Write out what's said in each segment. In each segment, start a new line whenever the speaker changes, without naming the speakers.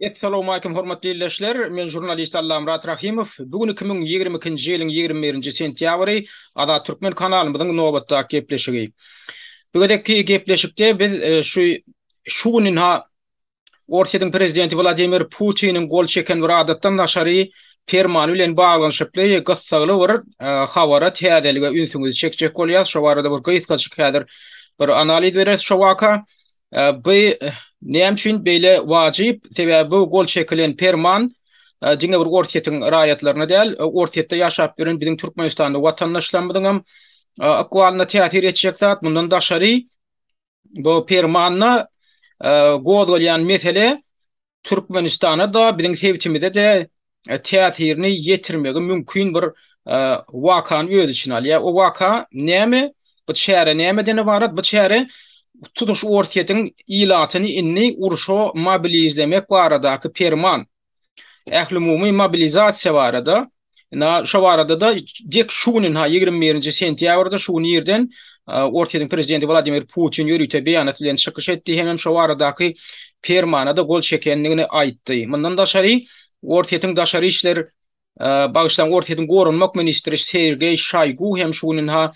Essalawmalikim hormatly ildeşler, men žurnalist Allamyrat Rahymow. Bu gün iki müň ýigrimi ikinji ýylyň ýigrimi birinji sentýabry, Azat Türkmen kanalymyzyň nobatdaky gepleşigi. Bu gezekki gepleşikde biz şu şu günün ha Orsýetiň prezidenti Wladimir Putiniň gol çeken bir adatdan daşary permany bilen baglanyşykly gyssagly bir habara täzelige ünsüňizi çekjek bolýas. Şo barada bir gysgaçyk häzir bir analiz bereris şo waka. Bu näme üçin beýle wajyp? Sebäbi bu gol çekilen perman diňe bir Orsýetiň raýatlaryna däl, Orsýetde ýaşap ýören biziň türkmenistanly watandaşlarymyzyň hem ykbalyna täsir etjek zat. Mundan daşary, bu permanda gozgalýan mesele Türkmenistana-da, biziň sebitimize-de täsirini ýetirmegi mümkin bir wakany öz içine alýar. O waka näme? Bu çäre nämeden ybarat? Bu çäre tutuş Orsýetiň ilatyny indi urşa mobilizlemek baradaky perman, ählumumy mobilizasiýa barada Ina şu barada da dek şu günün ha 21-nji sentýabrda şu gün ýerden Orsýetiň prezidenti Wladimir Putin ýörite beýanat bilen çykyş etdi hem hem şu baradaky permana da gol çekendigini aýtdy. Mundan daşary Orsýetiň daşary işler bagyşlaň Orsýetiň goranmak ministri Sergeý Şaýgu hem şu günün ha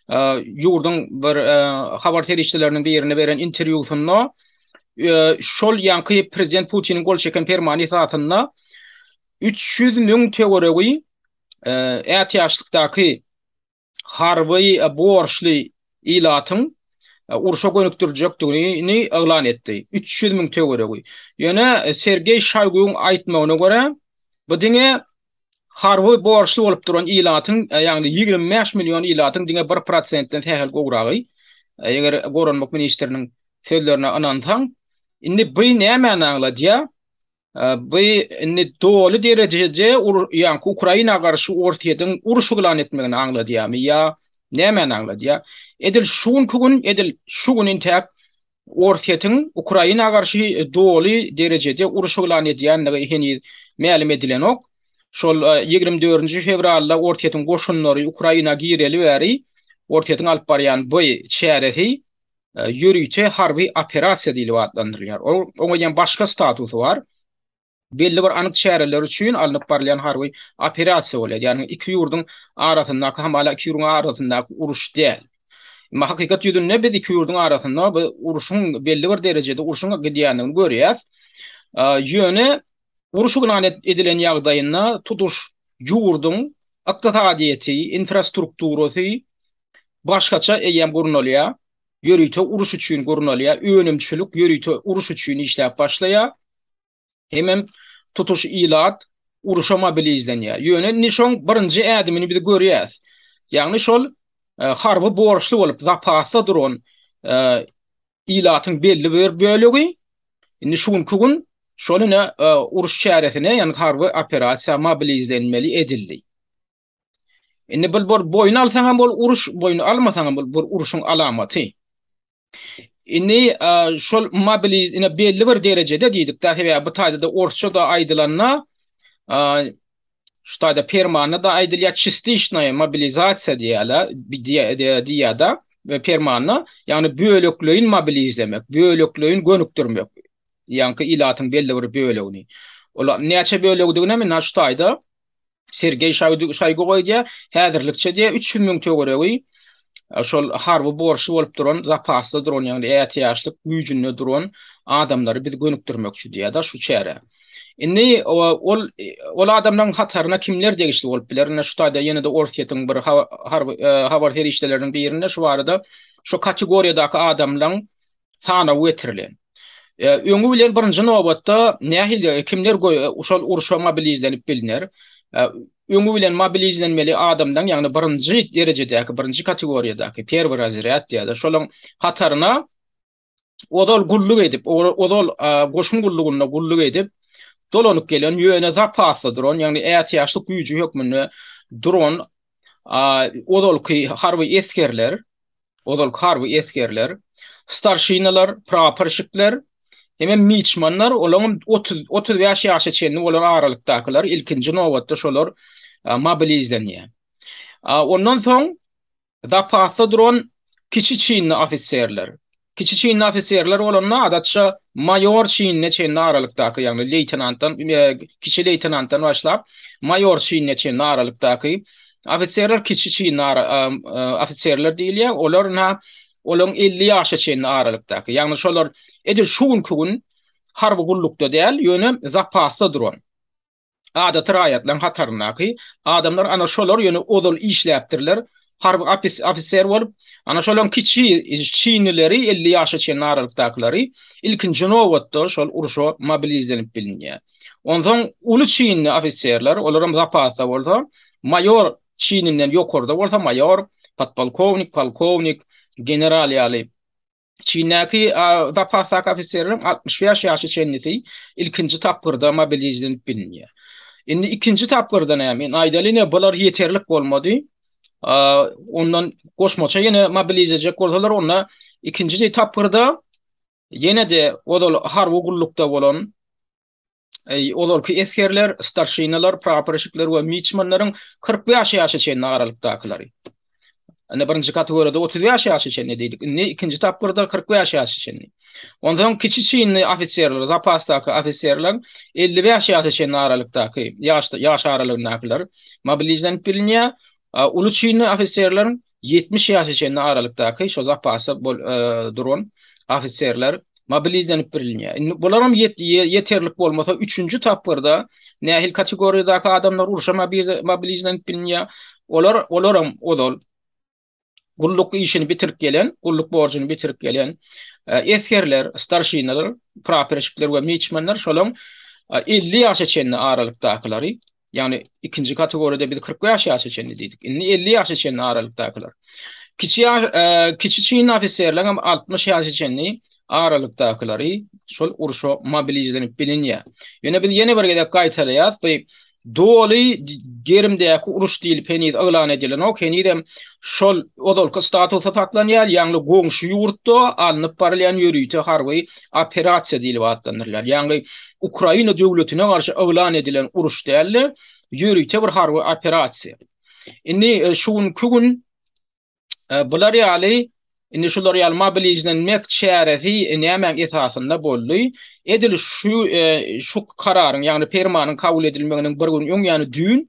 ýurduň bir habar serişdeleriniň birine beren interwýusynda şol ýanky prezident Putiniň gol çeken permany esasynda Üç ýüz müň töweregi ätiýaçlykdaky harby borçly ilatyň urşa gönükdirjekdigini yglan etdi. Üç ýüz müň töweregi. Ýöne Sergeý Şoýguň aýtmagyna görä, bu diňe harby borçly bolup duran ilatyň, ýagny ýigrimi bäş million ilatyň diňe bir prosentden sähel gowragy, eger goranmak ministriniň sözlerine ynansaň. Indi bu nämäni aňladýar? Bu indi doly derejeje ýaňky Ukraina garşy Orsýetiň uruş yglan etmegini aňladýarmy ýa nämäni aňladýar? Edil şu günki gün, edil şu gün intäk Orsýetiň Ukraina garşy doly derejeje uruş yglan edýändigi heniz mälim edilenok. Şol ýigrimi dördünji fewralda Orsýetiň goşunlary Ukraina gireli bäri Orsýetiň alyp barýan bu çäresi ýörite harby operasiýa diýlip atlandyrylýar. Ol oňa diýen başga statusy bar. Belli bir anyk çäreler üçin alnyp barylýan harby operasiýa bolýar. Ýagny iki ýurduň arasyndaky hamala iki ýurduň arasyndaky uruş däl. Emma hakykat ýüzünde biz iki ýurduň arasynda bu uruşyň belli bir derejede uruşyň gidýändigini görýäs. Ýöne uruş yglan edilen ýagdaýynda tutuş ýurduň ykdysadyýeti, infrastrukturasy başgaça eýýäm gurnalýar, ýörite uruş üçin gurnalýar, önümçilik ýörite uruş üçin işläp başlaýar, hemem tutuş ilat uruşa mobilizlenýär. Ýöne indi şoň birinji ädimini biz görýäs. Ýagny şol harby borçly bolup zapasda duran ilatyň belli bir bölegi indi şu günki gün şol ine uruş çäresine, ýagny harby operasiýa mobilizlenmeli edildi. Indi bul bor boýun alsaňam bol uruş, boýun almasaňam bol bor uruşyň alamaty. Indi şol mobiliz ina belli bir derejede diýdik da sebäbi bu taýda da orsça da aýdylanda şu taýda permanda da aýdylýar çistişnaýa mobilizasiýa diýýärler diýýär da we permanda ýagny bölekleýin mobilizlemek, bölekleýin gönükdirmek. Ýaňky ilatyň belli bir bölegini. Olar näçe bölegdigine men şu taýda Sergeý Şoýgu goýdýar, häzirlikçe diýýär, üç ýüz müň töweregi şol harby borçly bolup duran, zapasda duran, ýagny ätiýaçlyk güýjünde duran adamlary biz gönükdirmekçi diýýär-de şu çärä. Indi ol adamlaryň hataryna kimler degişli bolup biler? Ine şu taýda ýene-de Orsýetiň bir habar serişdeleriniň birinde şu barada şu kategoriýadaky adamlaryň sanaw getirilen. Öňi bilen birinji nobatda nähili kimler şol urşa mobilizlenip bilner? Öňi bilen mobilizlenmeli adamlaryň, ýagny birinji derejedäki, birinji kategoriýadaky, perwi razrýad diýýärler, şolaryň hataryna ozal gulluk edip, ozal goşun gullugynda gulluk edip, dolanyp gelen, ýöne zapasda duran, ýagny ätiýaçlyk güýji hökmünde duran ozalky harby esgerler, ozalky harby esgerler, starşinalar, praporşikler hemem miçmanlar, olaryň otuz, otuz bäş ýaşa çenli bolan aralykdakylar, ilkinji nobatda şolar mobilizlenýär. Ondan soň zapasda duran kiçi çinli ofiserler, kiçi çinli ofiserler bolanda adatça maýor çinine çenli aralykdaky, ýagny leýtenantdan, kiçi leýtenantdan başlap, maýor çinine çenli aralykdaky Ofiserler kiçi çyn ofiserler diýilýär. Olar na olaryň 50 ýaşa çenli aralykdaky. Ýagny şolar edil şu günki gün harby gullukda däl, ýöne zapasda duran. Adaty raýatlaryň hataryndaky adamlar ana şolar ýöne ozal işläpdirler. Harby ofiser bolup, ana şolaryň kiçi çinlileri 50 ýaşa çenli aralykdakylary ilkinji nobatda şol urşa mobilizlenip bilinýär. Onsoň uly çinli ofiserler, olar hem zapasda bolsa, maýor çininden ýokarda bolsa maýor, podpolkownik, polkownik, general ýaly çindäki zapasdaky ofiserleriň altmyş bäş ýaşa çenlisi ilkinji tapgyrda mobilizlenip bilinýär. Indi ikinji tapgyrda näme? Men aýdaly ine bular ýeterlik bolmady. Ondan goşmaça ýene mobilizlejek bolsalar, onda ikinji tapgyrda Ýene-de ozal harby gullukda bolan ozalky esgerler, starşinalar, praporeşikler we miçmanlaryň kyrk bäş ýaşa çenli aralykdakylary. Indi birinji kategoriýada otuz bäş ýaşa çenli diýdik. Indi ikinji tapgyrda kyrk bäş ýaşa çenli. Onsoň kiçi çinli ofiserler, zapasdaky ofiserler, elli bäş ýaşa çenli aralykdaky ýaş aralygyndakylar mobilizlenip bilinýär. Uly çinli ofiserler Ýetmiş ýaşa çenli aralykdaky şo zapasda duran ofiserler mobilizlenip birilýär. Indi bularam ýeterlik bolmasa, üçünji tapgyrda nähili kategoriýadaky adamlar urşa mobilizlenip bilinýär? Olar, olaram ozal gulluk işini bitirip gelen, gulluk borjuny bitirip gelen esgerler, starşinalar, praporşikler we miçmanlar, şolaň elli ýaşa çenli aralykdakylary Ýagny ikinji kategoriýada biz 40 bäş ýaşa çenli diýdik. Indi 50 ýaşa çenli aralykdakylar. Kiçi ýaş, e, kiçi çyn ofiserler hem 60 ýaşa çenli aralykdakylary şol urşa mobilizlenip bilinýär. Ýöne biz ýene bir gezek gaýtalaýarys, bu doly gerimdäki uruş diýlip heniz yglan edilenok, henizem şol ozalky statusy saklanýar, ýagny goňşy ýurtda alnyp barylýan ýörite harby operasiýa diýlip atlandyrylýar. Ýagny Ukraina döwletine garşy yglan edilen uruş däl-de, ýörite bir harby operasiýa. Indi e, şu günki gün e, bular ýaly Indi şular ýaly mobilizlenmek çäresi e, nämäň esasynda boldy? Edil şu e, şu kararyň, ýagny permanyň kabul edilmeginiň bir gün öň, ýagny düýn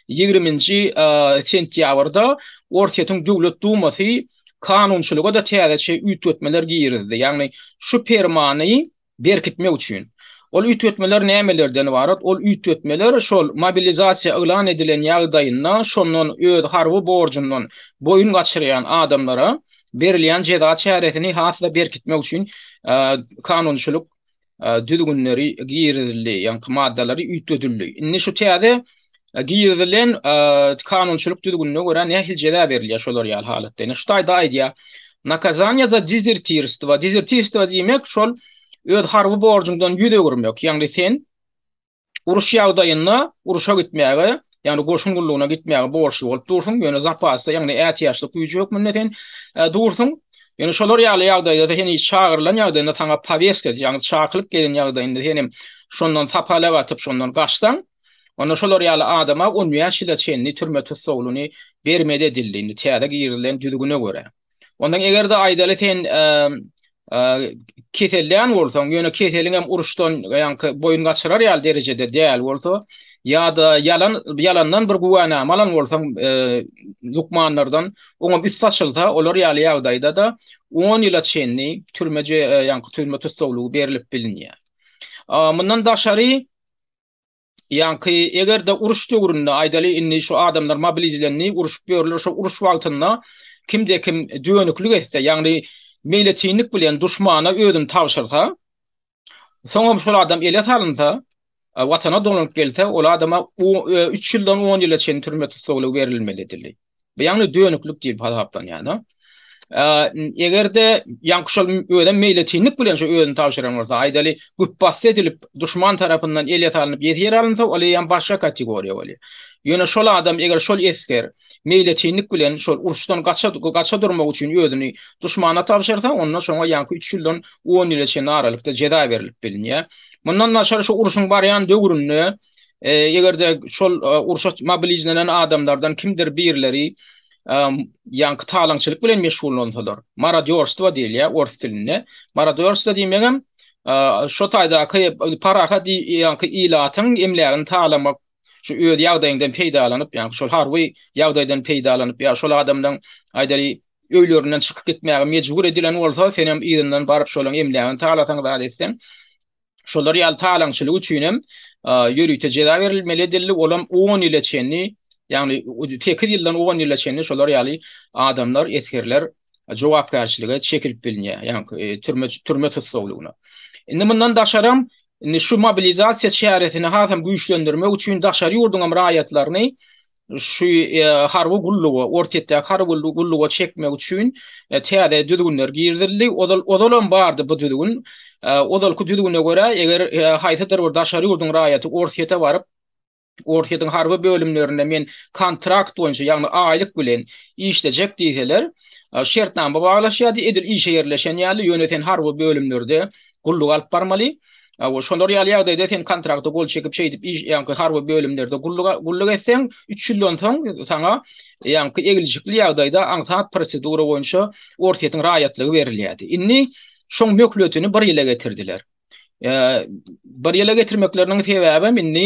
20-nji e, sentýabrda Orsýetiň Döwlet Dumasy kanunçylyga-da täzeçe üýtgetmeler girizdi, ýagny şu permany berkitmek üçin. Ol üýtgetmeler nämelerden ybarat? Ol üýtgetmeler şol mobilizasiýa yglan edilen ýagdaýynda şondan öz harby borjundan boýun gaçyrýan adamlara berilýän jeza çäresini has-da berkitmek üçin kanunçylyk düzgünleri girizildi, ýaňky maddalary üýtgedildi. Indi şu täze girizilen kanunçylyk düzgünine görä nähili jeza berilýär şolar ýaly halatda? Ine şu taýda aýdýar. Nakazaniýa za dezertirstwo. Dezertirstwo diýmek şol öz harby borjuňdan ýüz öwürmek. Ýagny sen Uruş ýagdaýynda urşa gitmäge, ýagny goşun gullugyna gitmäge borçly bolup dursuň, ýöne zapasda, ýagny ätiýaçlyk güýji hökmünde sen dursuň. Ýöne şolar ýaly ýagdaýda-da sen hiç çagyrylan ýagdaýynda saňa powestka, ýagny çakylyk gelen ýagdaýynda sen hem şondan sapalak atyp, şondan gaçsaň, onda şolar ýaly adama on bäş ýyla çenli türme tussaglyny bermeli edildi, indi täze girizilen düzgüne görä. Ondan eger-de aýdaly sen keselden bolsaň, ýöne keseliň hem uruşdan ýaňky boýun gaçyrar ýaly derejede däl bolsa, ýa-da ýalan ýalandan bir güwänama alan bolsaň, lukmanlardan oňa üsti açylsa, olar ýaly ýagdaýda-da on ýyla çenli türme ýaňky türme tussaglygy berlip bilinýär. Mundan daşary Ýaňky eger-de uruş döwründe aýdaly indi şu adamlar mobilizlendi, uruşyp ýörler, şo uruş wagtynda kimde-kim dönüklik etse, ýagny meýletinlik bilen duşmana özüni tabşyrsa, soňam şol adam ele salynsa, watana dolanyp gelse, ol adama üç ýyldan on ýyla çenli türme tussaglygy berilmeli edildi. Bu ýagny dönüklik diýip hasaplanýar-da. Eger-de ýaňky şol özem meýletinlik bilen şu özüni tabşyran bolsa, aýdaly, güpbasdy edilip, duşman tarapyndan ele salnyp ýesir alynsa, ol eýýäm başga kategoriýa bolýar. Ýöne şol adam, eger şol esger meýletinlik bilen şol uruşdan gaça durmak üçin özüni duşmana tabşyrsa, onda şoňa ýaňky üç ýyldan on ýyla çenli aralykda jeza berlip bilinýär. Mundan daşary şu urşuň barýan döwründe, Eger-de şol urşa mobilizlenen adamlardan kimdir birleri ýaňky talaňçylyk bilen meşgullansalar, marodýorstwo diýilýär ors dilinde. Marodýorstwo diýmegem şo taýdaky parahat ýaňky ilatyň emlägini talamak, şu öz ýagdaýyňdan peýdalanyp, ýaňky şol harby ýagdaýdan peýdalanyp ýa şol adamlaryň aýdaly öýlerinden çykyp gitmäge mejbur edilen bolsa, senem yzyndan baryp şolaryň emlägini talasaň zat etseň, şolar ýaly talaňçylyk üçin hem ýörite jeza berilmeli edildi, ol hem on ýyla çenli, ýagny sekiz ýyldan on ýyla çenli şolar ýaly adamlar, esgerler jogapkärçilige çekilip bilinýär, ýagny türme türme tussaglygyna. Indi mundan daşaram, indi şu mobilizasiýa çäresini hasam güýçlendirmek üçin daşary ýurduň hem raýatlaryny şu harby gullugy, orta ýetdäki harby gullugy çekmek üçin täze düzgünler girizildi. Ozal, ozalam bardy bu düzgün. Ozalky düzgüne görä, eger haýsydyr bir daşary ýurduň raýaty Orsýete baryp, Orsýetiň harby bölümlerinde men kontrakt boýunça, ýagny aýlyk bilen işlejek diýseler, şertnama baglaşýardy, edil işe ýerleşen ýaly, ýöne sen harby bölümlerde gulluk alyp barmaly. Aw, şolar ýaly ýagdaýda sen kontrakta gol çekip şeýdip iş, ýaňky harby bölümlerde gulluk, gulluk etseň, üç ýyldan soň saňa ýaňky eglişikli ýagdaýda aňsat prosedura boýunça Orsýetiň raýatlygy berilýärdi. Indi şoň möhletini bir ýyla getirdiler. Eee, bir ýyla getirmekleriniň sebäbem indi,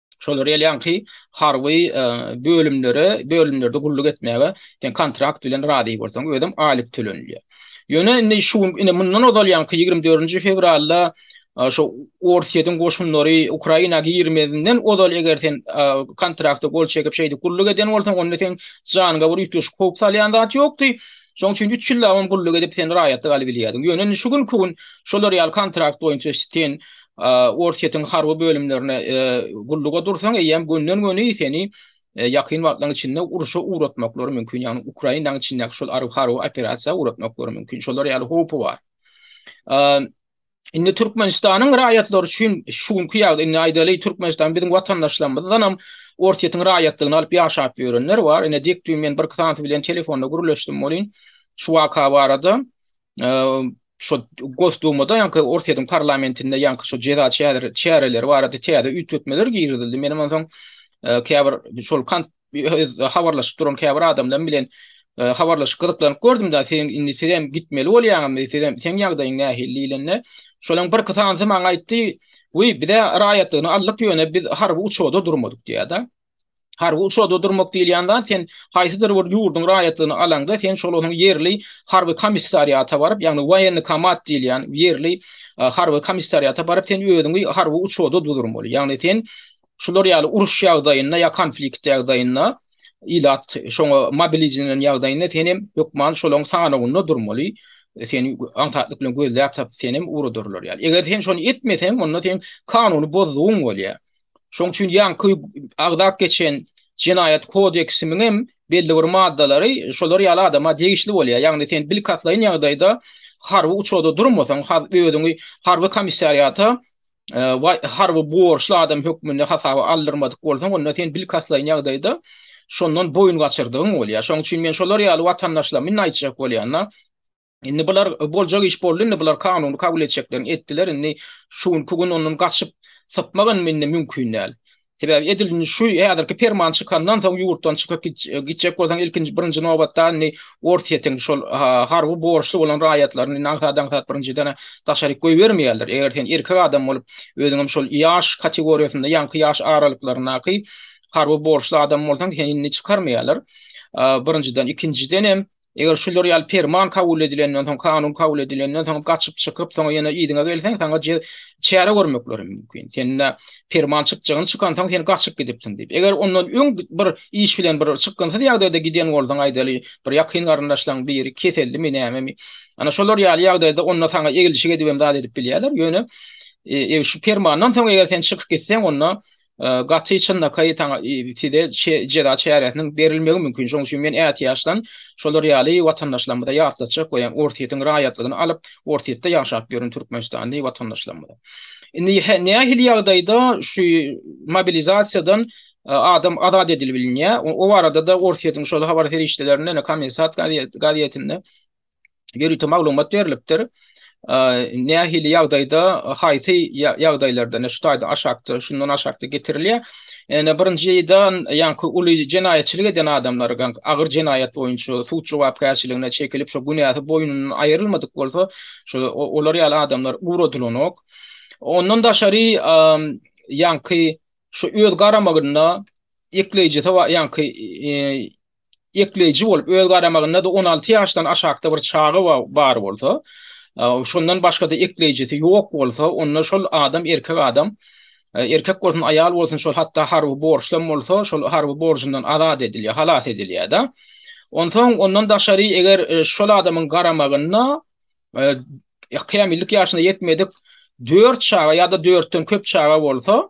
şolar ýalýanky harby bölümlere, bölümlerde gulluk etmäge sen kontrakt bilen razy bolsaň, özem aýlyk tölenilýär. Ýöne indi şu gün, indi mundan ozalýanky 24-nji fewralda şu Orsýetiň goşunlary Ukraina girmezinden ozal eger sen kontrakta gol çekip şeýdip gulluk eden bolsaň, onda sen janyňa bir üýtgeşik howp salýan zat ýokdy. Şoň üçin 3 ýyllap hem gulluk edip sen raýatlyk alyp bilýärdiň. Ýöne indi şu günki gün şolar ýaly kontrakt boýunça sen Orsýetiň harby bölümlerine gulluga dursaň eýýäm gönden-göni seni ýakyn wagtlaryň içinde urşa ugratmaklary mümkin, ýagny Ukrainanyň içindäki şol harby operasiýa ugratmaklary mümkin. Şolar ýaly howpy bar. Indi Türkmenistanyň raýatlary üçin şu günki ýagdaý, indi aýdaly Türkmenistan biziň watandaşlarymyzdanam Orsýetiň raýatlygyny alyp ýaşap ýörenler bar. Ine dik düýn men birki tanşy bilen telefonda gürleşdim welin şu waka barada. şo Gosdumada ýaňky Orsýetiň parlamentinde ýaňky şo jeza çäreleri barada täze üýtgetmeler girizildi. Menem onsoň käbir şol kant habarlaşyp duran käbir adamlar bilen habarlaşyp gyzyklanyp gördüm-de, sen indi sizem gitmeli bolýaňyzmy, sizem seň ýagdaýyň nähili diýlende, şolaň birki sanysy maňa aýtdy, Wiý, bizä raýatlygyny aldyk ýöne biz harby uçarda durmadyk diýýär-de. Harby uçarda durmak diýilýän zat sen haýsydyr bir ýurduň raýatlygyny alaňda sen şol onuň ýerli harby komissariata baryp, ýagny woýennokomat diýilýän ýerli harby komissariata baryp sen özüňi harby uçarda dudurmaly. Ýagny sen şular ýaly uruş ýagdaýynda ýa konflikt ýagdaýynda ilat şoňa mobilizirlenen ýagdaýynda sen hem hökman şolaň sanawynda durmaly. Seni aňsatlyk bilen gözläp tapyp seni hem uradyrlar ýaly. Eger sen şony etmeseň, onda sen kanuny bozdugyň bolýar. Şoň üçin ýaňky agzap geçen jenaýat kodeksimiň hem belli bir maddalary şolar ýaly adama degişli bolýar. Ýagny sen bilkastlaýyn ýagdaýda harby uçarda durmasaň, özüňi harby komissariata e, harby borçly adam hökmünde hasaba aldyrmadyk bolsaň, onda sen bilkastlaýyn ýagdaýda şondan boýun gaçyrdygyň bolýar. Şoň üçin men şolar ýaly watandaşlarymyň aýtjak bolýanyna Indi bular boljak iş boldy indi bular kanuny kabul etjeklerini etdiler indi şu günki gün ondan gaçyp sypmak indi indi mümkin däl. Sebäbi edil indi şu häzirki perman çykandan soň ýurtdan çykyp gitjek bolsaň ilkinji birinji nobatda indi Orsýetiň şol harby borçly bolan raýatlaryny indi aňsat-aňsat birinjiden daşaryk goýbermeýärler. Eger sen erkek adam bolup özüň hem şol ýaş kategoriýasynda ýaňky ýaş aralyklaryndaky harby borçly adam bolsaň seni indi çykarmaýarlar. Birinjiden ikinjiden hem Eger şular ýaly perman kabul edilenden soň, kanun kabul edilenden soň gaçyp çykyp, soň ýene yzyňa gelseň, saňa çäre görmekleri mümkin. Sende perman çykjagyny çykansoň, sen gaçyp gidipsiň diýip. Eger ondan öň bir iş bilen bir çykgynsyz ýagdaýda giden bolsaň, aýdaly, bir ýakyn garyndaşlaň biri kesellimi, nämemi, ana şolar ýaly ýagdaýda onda saňa eglişik edibem zat edip bilýärler. Ýöne şu permandan soň eger sen çykyp gitseň, onda gaty çynlakaý size jeza çäresiniň berilmegi mümkin. Şonuň üçin men ätiýaçdan şolar ýaly watandaşlarymyza ýatlatjak bolýan Orsýetiň raýatlygyny alyp, Orsýetde ýaşap ýören türkmenistanly watandaşlarymyza. Indi nähili ýagdaýda şu mobilizasiýadan adam azat edilip bilinýär, o barada-da Orsýetiň şol habar serişdelerinde, ine Kommersant gazetinde ýörite maglumat berlipdir. Nähili ýagdaýda, haýsy ýagdaýlarda, ine şu taýda aşakda, şundan aşakda getirilýär. Ene birinjiden, ýaňky uly jenaýatçylyk eden adamlar, agyr jenaýat boýunça sud jogapkärçiligine çekilip, şo günäsi boýnundan aýrylmadyk bolsa, şo olar ýaly adamlar ugradylanok. Ondan daşary, ýaňky şu öz garamagynda ekleýjisi bar, ýaňky ekleýji bolup, öz garamagynda-da on alty ýaşdan aşakda bir çaga bar bolsa, şondan başga-da ekleýjisi ýok bolsa, onda şol adam, erkek adam, erkek bolsun, aýal bolsun, şol hatda harby borçlam bolsa, şol harby borjundan azat edilýär, halas edilýär-de. Onsoň, ondan daşary, eger şol adamyň garamagynda kämillik ýaşyna ýetmedik dört çaga ýa-da dörtden köp çaga bolsa,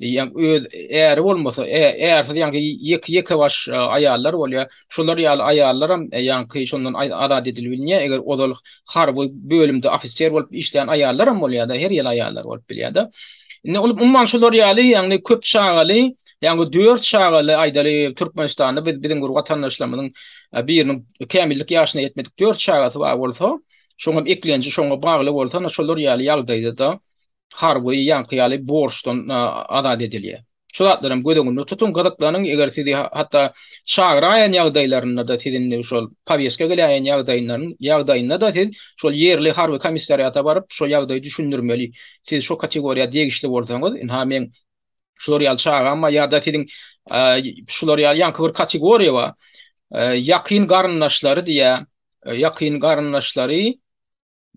ýa öz äri bolmasa ärsiz ýaňky ýeke ýeke baş aýallar bolýa şolar ýaly aýallaram ýaňky şondan azat edilbilýä eger ozal harby bölümde ofiser bolup işleýän aýallaram bolýada her ýyl aýallar bolup bilýada indi ol umman şolar ýaly ýagny köp çagaly ýaňky dört çagaly aýdaly türkmenistanda biz biziň bir watandaşlarymyzyň biriniň kämillik ýaşyna ýetmedik dört çagasy bar bolsa şoňam eklenji şoňa bagly bolsa şolar ýaly ýagdaýda da harby ýaňky ýaly borçdan azat edilýär. Şu zatlaram göz öňünde tutuň, gyzyklanyň, eger sizi hatda çagyraýan ýagdaýlarynda-da siz indi şol powestka geläýen ýagdaýynda-da siz şol ýerli harby komissariata baryp şo ýagdaýy düşündirmeli. Siz şo kategoriýa degişli bolsaňyz, ynha meň şular ýaly çagam bar ýa-da siziň şular ýaly ýaňky bir kategoriýa bar, ýakyn garyndaşlary diýýär, ýakyn garyndaşlary,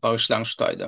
bagyşlaň şu taýda.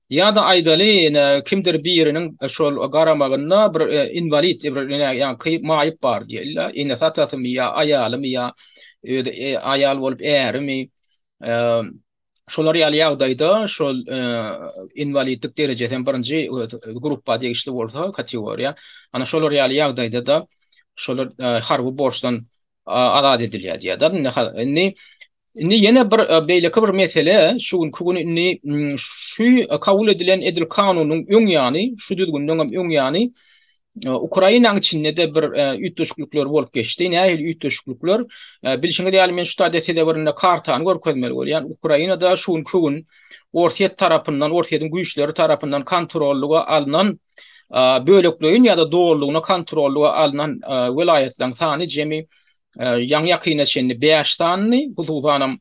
Ýa-da aýdaly, ine, kimdir biriniň şol garamagynda bir inwalid, ýaňky maýyp bar diýeli-de, enesatasymy ýa aýalymy ýa özi aýal bolup ärimi, şolar ýaly ýagdaýda şol inwalidlik derejesi hem birinji gruppa degişli bolsa, kategoriýa, ana şolar ýaly ýagdaýda-da şolar harby borçdan azat edilýär diýýärler. Indi indi indi ýene bir e, beýleki bir mesele şu günki gün indi şu kabul edilen edil kanunyň öň ýany, şu düzgünden hem öň ýany e, Ukrainanyň içinde de bir e, üýtgeşiklikler bolup geçdi. Nähili üýtgeşiklikler? Bilşiňiz ýaly men şu taýda size birinde kartany görkezmeli bolýan. Ukrainada şu günki gün Orsýet tarapyndan, Orsýetiň güýçleri tarapyndan kontrollyga alnan bölekleýin ýa-da dolulygyna kontrollyga alnan welaýatlaryň sany jemi ýaňy-ýakyna çenli bäş sanydy, hususanam,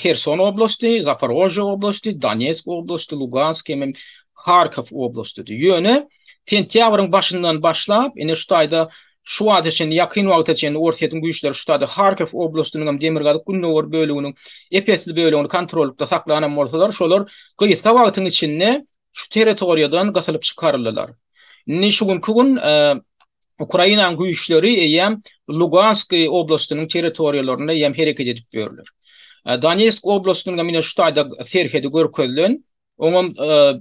Herson oblasty, Zaparožýe oblasty, Donetsk oblasty, Lugansk hem-ä Harkow oblastydy. Ýöne sentýabryň başyndan başlap, ine şu taýda Şu wagta çenli, ýakyn wagta çenli Orsýetiň güýçleri ştaty Harkiw oblastynyň hem demirgazyk-gündogar böleginiň ep-esli bölegini kontrollykda saklanam bolsalar, şolar gysga wagtyň içinde şu territoriýadan gysylyp çykaryldylar. Indi şu günki gün Ukrainanyň güýçleri eýýäm Lugansk oblastynyň territoriýalarynda eýýäm hereket edip ýörler. Donetsk oblastynyň hem ine şu taýda serhedi görkezilen. Oňam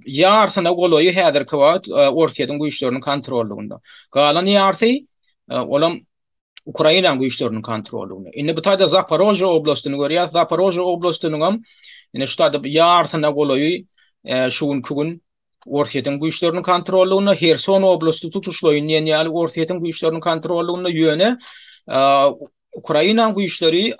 ýarsyna golaýy häzirki wagt Orsýetiň güýçleriniň kontrollygynda. Galan ýarsy, olam Ukrainanyň güýçleriniň kontrollygynda. Indi bu taýda Zaporojýe oblastyny görýäs. Zaporojýe oblastynyňam indi şu taýda ýarsyna golaýy şu günki gün Orsýetiň güýçleriniň kontrollygynda, Herson oblasty tutuşlaýyn diýen ýaly Orsýetiň güýçleriniň kontrollygynda, ýöne Ukrainanyň güýçleri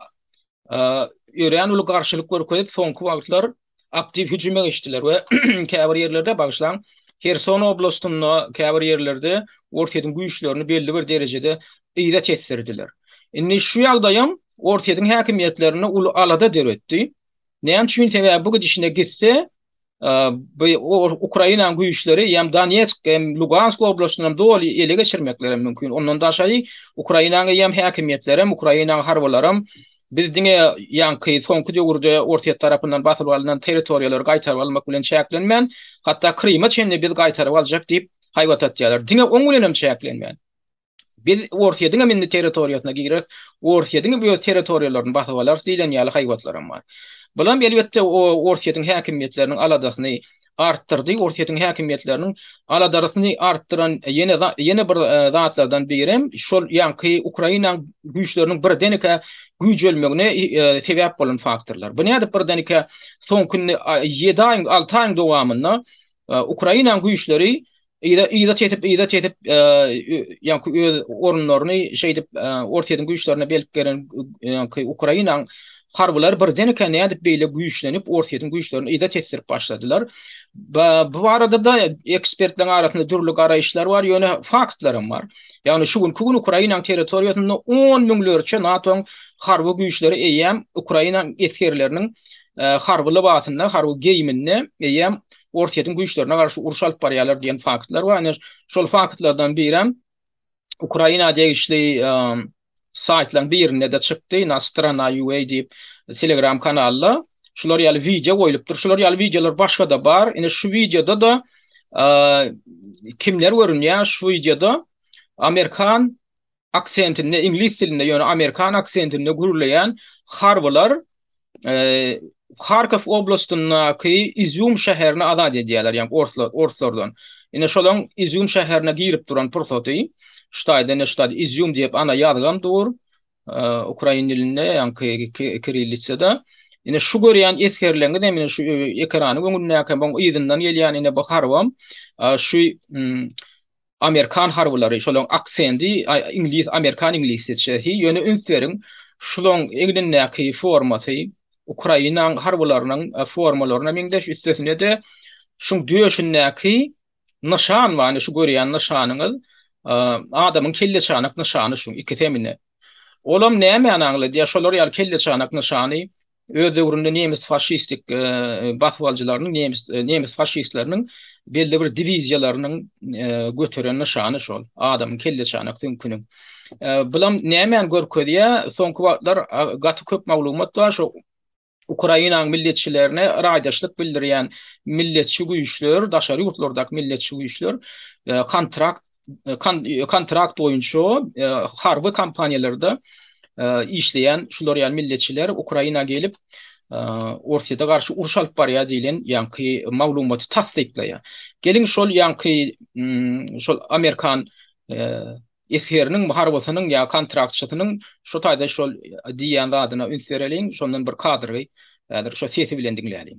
örän uly garşylyk görkezip, soňky wagtlar aktiw hüjüme geçdiler we käbir ýerlerde, bagyşlaň, Herson oblastynda, käbir ýerlerde Orsýetiň güýçlerini belli bir derejede yza tesdirdiler. Indi şu ýagdaýam Orsýetiň häkimiýetlerinde uly alada döretdi. Näme üçin? Sebäbi bu gidişine gitse, bu Ukrainanyň güýçleri ýa-da Donetsk hem Lugansk oblastyny doly ele geçirmekleri mümkin. Ondan daşary Ukrainanyň eýýäm häkimiýetleri hem Ukrainanyň harbylary hem biz diňe ýaňky soňky döwürde Orsýet tarapyndan basyp alnan territoriýalary gaýtaryp almak bilen çäklenmän, hatda Krymy çenli biz gaýtaryp aljak diýip haýbat atýarlar. Diňe oň bilen hem çäklenmän. Biz Orsýe diňem indi territoriýasyna gireris, Orsýe diňem öz territoriýalaryny basyp alar diýlen ýaly haýbatlaram bar. Bulam elbetde Orsýetiň häkimiýetleriniň aladasyny artdyrdy. Orsýetiň häkimiýetleriniň aladarysyny artdyran ýene ýene bir zatlardan birem şol ýaňky Ukrainaň güýçleriniň birdenkä güýjelmegine sebäp bolan faktorlar. Bu nädip birdenkä soňky ýedi aýyň, alty aýyň dowamynda Ukrainaň güýçleri Yza yza çetip yza çetip ýaňky öz orunlaryny şeýdip Orsyýetiň güýçlerine belip gelen ýaňky Ukrainaň harbylary birdenkä nädip beýle güýçlenip Orsyýetiň güýçlerini yza çetdirip başladylar. Bu barada-da ekspertleriň arasynda dürli garaýyşlar bar, ýöne faktlar hem bar. Ýagny şu günki gün Ukrainaň territoriýasynda 10 müňlerçe NATO-nyň harby güýçleri eýýäm Ukrainaň esgerleriniň harby lybasynda, harby geýiminde eýýäm Orsýetiň güýçlerine garşy uruş alyp barýarlar diýen faktlar bar. Ine, şol faktlardan birem Ukraina degişli saýtlaryň birinde-de çykdy, na strana.ua diýip Telegram kanalda şular ýaly wideo goýlupdyr. Şular ýaly wideolar başga-da bar. Ine şu wideoda-da kimler görünýär? Şu wideoda Amerikan aksentinde, iňlis dilinde, ýöne amerikan aksentinde gürleýän harbylar Harkow oblastyndaky Izýum şäherini azat edýärler, ýagny orslar, orslardan. Ine şolaň Izýum şäherine girip duran pursaty, ştaýda ne ştaýda Izýum diýip ana ýazgam dur, ukrain dilinde, ýagny kirillitsada. Ine şu görýän esgerleňiz hem şu ekranyň öňündäki hem oň yzyndan gelýän ine bu harbam şu Amerikan harbylary şolaň aksendi iňlis amerikan iňlisçesi ýöne üns beriň şulaň egnindäki formasy Ukrainaň harbylarynyň formalaryna meňzeş üstesinede şuň döşündäki nyşan bar şu görýän nyşanyňyz adamyň kelleçanak nyşany şuň iki semine olam nämäni aňladýar şolar ýaly kelleçanak nyşany Öz döwründe nemes faşistik basyp alyjylarynyň nemes nemes faşistleriniň belli bir diwiziýalarynyň göteren nyşany şol adamyň kelleçanak süňküniň. Bulam nämäni görkezýär? Soňky wagtlar gaty köp maglumat bar şu Ukrainanyň milletçilerine raýdaşlyk bildirýän milletçi güýçler, daşary ýurtlardaky milletçi güýçler kontrakt kontrakt boýunça harby kompaniýalarda işleýän şular ýaly milletçiler Ukraina gelip Orsýete garşy uruş alyp barýar diýlen ýaňky maglumaty tassyklaýar. Geliň şol ýaňky şol amerikan esgeriniň, harbysynyň ýa kontraktçysynyň şu taýda şol diýýän zadyna üns bereliň, şondan bir kadry häzir şu sesi bilen diňläliň.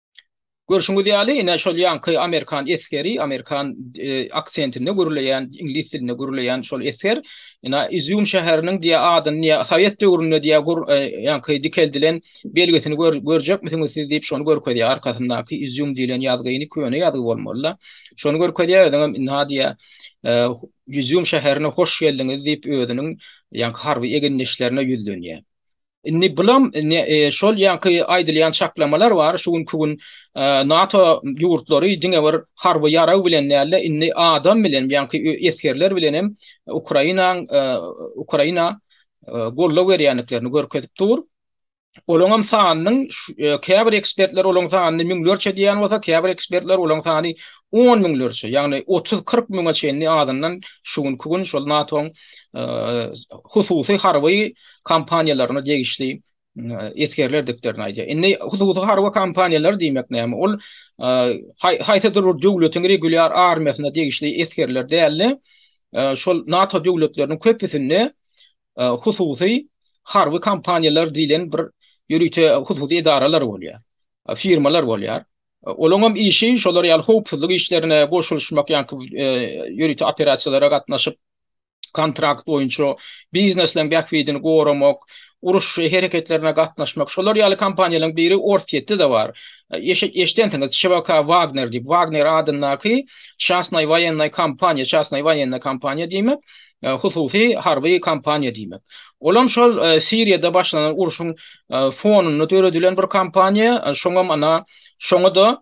Görşüňiz ýaly, ine, şol ýaňky amerikan esgeri, amerikan aksentinde gürleýän, iňlis dilinde gürleýän şol esger, ine, Izýum şäheriniň diýä adyny, diýä, sowet döwründe, diýä, ýaňky dikeldilen belgisini görjekmisiňiz siz diýip, şony görkezýär, arkasyndaky Izýum diýlen ýazgyny, köne ýazgy bolmaly-da, şony görkezýär, özüňem, ynha, diýä, Izýum şäherine hoş geldiňiz diýip, özüniň ýaňky harby egindeşlerine ýüzlenýär. Indi bulam şol ýaňky aýdylýan çaklamalar bar, şu günki gün NATO ýurtlary diňe bir harby ýarag bilen däl-de, indi adam bilen, ýaňky esgerler bilen hem Ukrainanyň Ukraina goldaw berýändiklerini görkezip dur. Olaňam sanynyň käbir ekspertler olaň sanyny müňlerçe diýýän bolsa, käbir ekspertler olaň sany on müňlerçe, ýagny otuz-kyrk müňe çenli azyndan şu günki gün şol NATO-nyň hususy harby kompaniýalaryna degişli esgerlerdiklerini aýdýar. Indi hususy harby kompaniýalar diýmek näme? Ol haýsydyr bir döwletiň regulýar armiýasyna degişli esgerler däldi. Şol NATO döwletleriniň köpüsinde hususy harby kompaniýalar diýlen bir ýörite hususy edaralar bolýar. Firmalar bolýar. Olaryň hem işi şolar ýaly howpsuzlyk işlerine goşulyşmak ýa-da ýörite operasiýalara gatnaşyp kontrakt boýunça, biznesleň bähbidini goramak, uruş hereketlerine gatnaşmak, şolar ýaly kompaniýalaryň biri Orsýetde-de bar. Eşidensiňiz, ÇVK Wagner diýip, Wagner adyndaky çastnaý woýennaý kompaniýa, çastnaý woýennaý kompaniýa diýmek, hususy harby kompaniýa diýmek. Olam şol Siriýada başlanan urşuň fonunda döredilen bir kompaniýa, şoňam ana, şoňa-da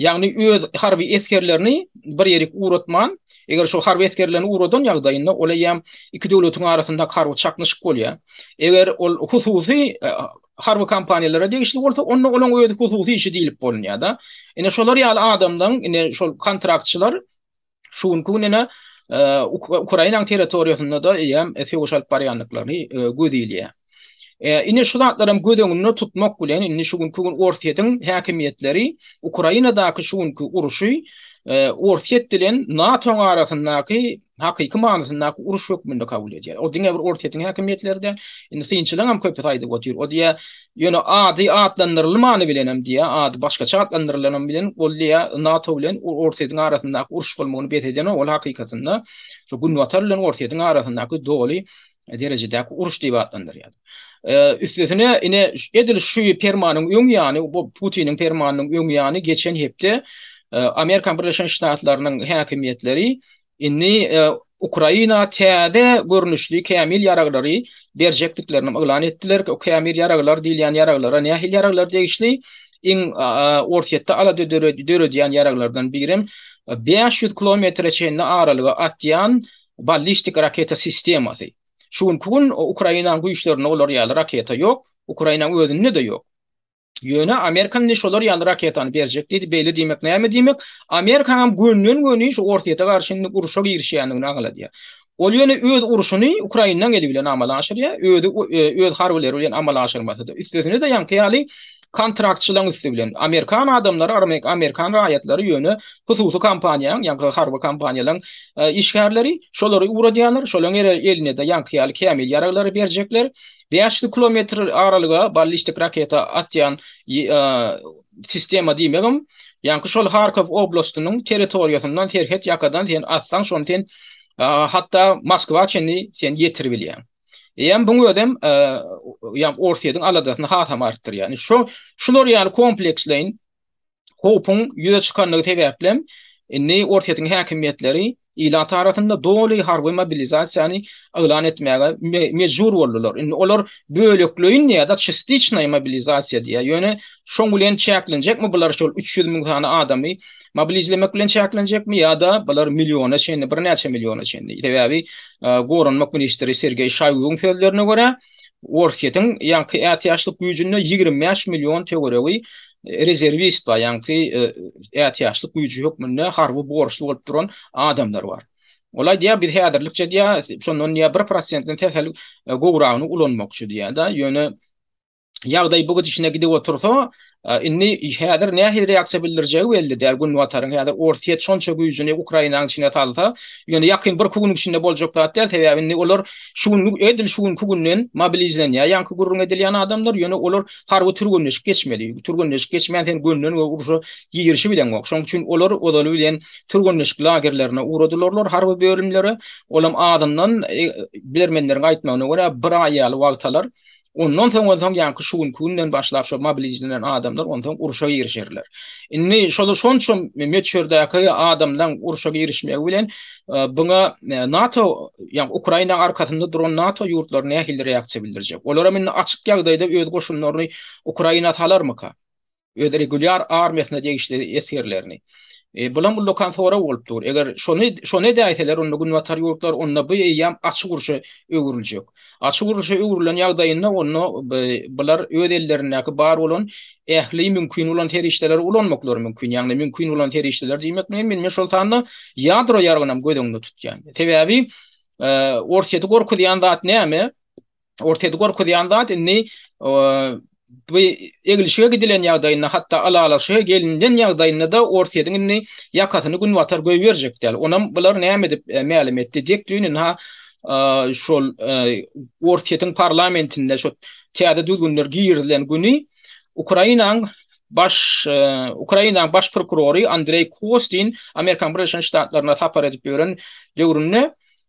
Ýagny öz harby esgerlerini bir ýerik ugratman, eger şo harby esgerlerini ugradan ýagdaýynda ol eýýäm iki döwletiň arasynda harby çaknyşyk bolýar. Eger ol hususy harby kompaniýalara degişli bolsa, onda olaň özi hususy işi diýlip bolunýar-da. Ine şolar ýaly adamlaryň, ine şol kontraktçylar Şu günki gün ene Ukrainanyň territoriýasynda-da eýýäm söweş alyp barýandyklaryny göz ilýär. Indi şu zatlaram göz öňünde tutmak bilen, indi şu günki gün Orsýetiň häkimiýetleri Ukrainadaky şu günki urşy Orsýet bilen NATO-nyň arasyndaky hakyky manysyndaky uruş hökmünde kabul edýär. O diňe bir Orsýetiň häkimiýetleri däl, indi synçylaryň hem köpüsi aýdyp otyr. O diýýär, Ýöne ady atlandyrylmany bilenem diýýär, ady başgaça atlandyrylany bilen ol diýýär, NATO bilen Orsýetiň arasyndaky uruş bolmagyny bes edenok, ol hakykatynda şu Günbatar bilen Orsýetiň arasyndaky doly derejedäki uruş diýip atlandyrýar. Üstesine, ine, edil şu permanyň öň ýany, Putiniň permanynyň öň ýany geçen hepde Amerika Birleşen Ştatlarynyň häkimiýetleri Indi Ukraina täze görnüşli kämil ýaraglary berjekdiklerini yglan etdiler. O kämil ýaraglar diýilýän ýaraglara nähili ýaraglar degişli? Iň Orsýetde alada döredýän ýaraglardan birem bäş ýüz kilometre çenli aralyga atýan ballistik raketa sistemasy. Şu günki gün Ukrainanyň güýçlerinde olar ýaly raketa ýok, Ukrainanyň özünde-de ýok. Ýöne Amerika indi şolar ýaly raketany berjek diýdi, beýle diýmek näme diýmek? Amerikanyň gönden-göni şu Orsýete garşy indi urşa girişýändigini aňladýar. Ol ýöne öz urşuny Ukrainanyň eli bilen amala aşyrýar, özi öz harbylary bilen amala aşyrmasa-da, üstesine-de ýaňky ýaly kontraktçylaryň üsti bilen. Amerikan adamlary, amerikan raýatlary ýöne hususy kompaniýanyň, ýaňky harby kompaniýalaryň işgärleri şolary ugradýarlar, şolaryň elinde-de ýaňky ýaly kämil ýaraglary berjekler. Bäş ýüz kilometr aralyga ballistik raketa atýan sistema diýmegem, ýaňky şol Harkow oblastynyň territoriýasyndan serhet ýakadan sen atsaň şony sen hatda Moskwa çenli sen ýetirip bilýäň. Eýem buň özem ýa Orsýetiň aladasyny hasam artdyrýar. Ýani şo şular ýaly kompleksleýin howpuň ýüze çykandygy sebäpli, indi Orsýetiň häkimiýetleri ilat arasynda doly harby mobilizasiýany yglan etmäge mejbur boldular. Indi olar bölekleýin ýa-da çistiçnaý mobilizasiýa diýýär. Ýöne şoň bilen çäklenjekmi bular şol üç ýüz müň sany adamy mobilizlemek bilen çäklenjekmi ýa-da bular milliona çenli, birnäçe milliona çenli? Sebäbi Goranmak ministri Sergeý Şaýguň sözlerine görä, Orsýetiň ýaňky ätiýaçlyk güýjünde ýigrimi bäş million töweregi rezerwist bar, ýaňky ätiýaçlyk güýji hökmünde harby borçly bolup duran adamlar bar. Ol aýdýar, biz häzirlikçe diýýär, şondan diýýär bir prosentden sähel gowragyny ulanmakçy diýýär-de, ýöne ýagdaý bu gidişine gidip otursa, Indi häzir nähili reaksiýa bildirjegi belli däl Günbataryň. Häzir Orsýet şonça güýjüni Ukrainanyň içine salsa, ýöne ýakyn birki günüň içinde boljak zat däl, sebäbi indi olar şu günki, edil şu günki günden mobilizlenýär ýaňky gürrüň edilýän adamlar, ýöne olar harby türgenleşik geçmeli. Türgenleşik geçmän sen gönden göge urşa girişip bileňok. Şonuň üçin olar ozaly bilen türgenleşik lagerlerine ugradylyrlar harby bölümleri. Olam azyndan, bilermenleriň aýtmagyna görä, bir aý ýaly wagt alar. Ondan soň bolsa ýaňky şu günki günden başlap şo mobilizlenen adamlar onsoň urşa girişerler. Indi şol şonça möçberdäki adamlaryň urşa girişmegi bilen e, buňa e, NATO, ýa Ukraina arkasynda duran NATO ýurtlary nähili reaksiýa bildirjek? Olar hem indi açyk ýagdaýda öz goşunlaryny Ukraina salarmyka? öz regulýar armiýasyna degişli esgerlerini. Bulam ullakan sorag bolup dur. Eger şony şony edäýseler, onda günbatar ýurtlar, onda bu eýýäm açyk urşa öwrüljek. Açyk urşa öwrülen ýagdaýynda onda bular öz ellerindäki bar bolan ähli mümkin bolan serişdeleri ulanmaklary mümkin. Ýagny mümkin bolan serişdeler diýmek bilen men şol sanda ýadro ýaragynam göz öňünde tutýan. Sebäbi Orsýeti gorkuzýan zat näme? Orsýeti gorkuzýan zat indi bu eglişige gidilen ýagdaýynda hatda alalaşyga gelinilen ýagdaýynda-da Orsýetiň indi ýakasyny Günbatar goýberjek däl. Onam bular näme edip mälim etdi dek düýn-ünha şol Orsýetiň parlamentinde şo täze düzgünler girizilen güni Ukrainanyň baş Ukrainanyň baş prokurory Andreý Kostin Amerikanyň Birleşen Ştatlaryna sapar edip ýören döwründe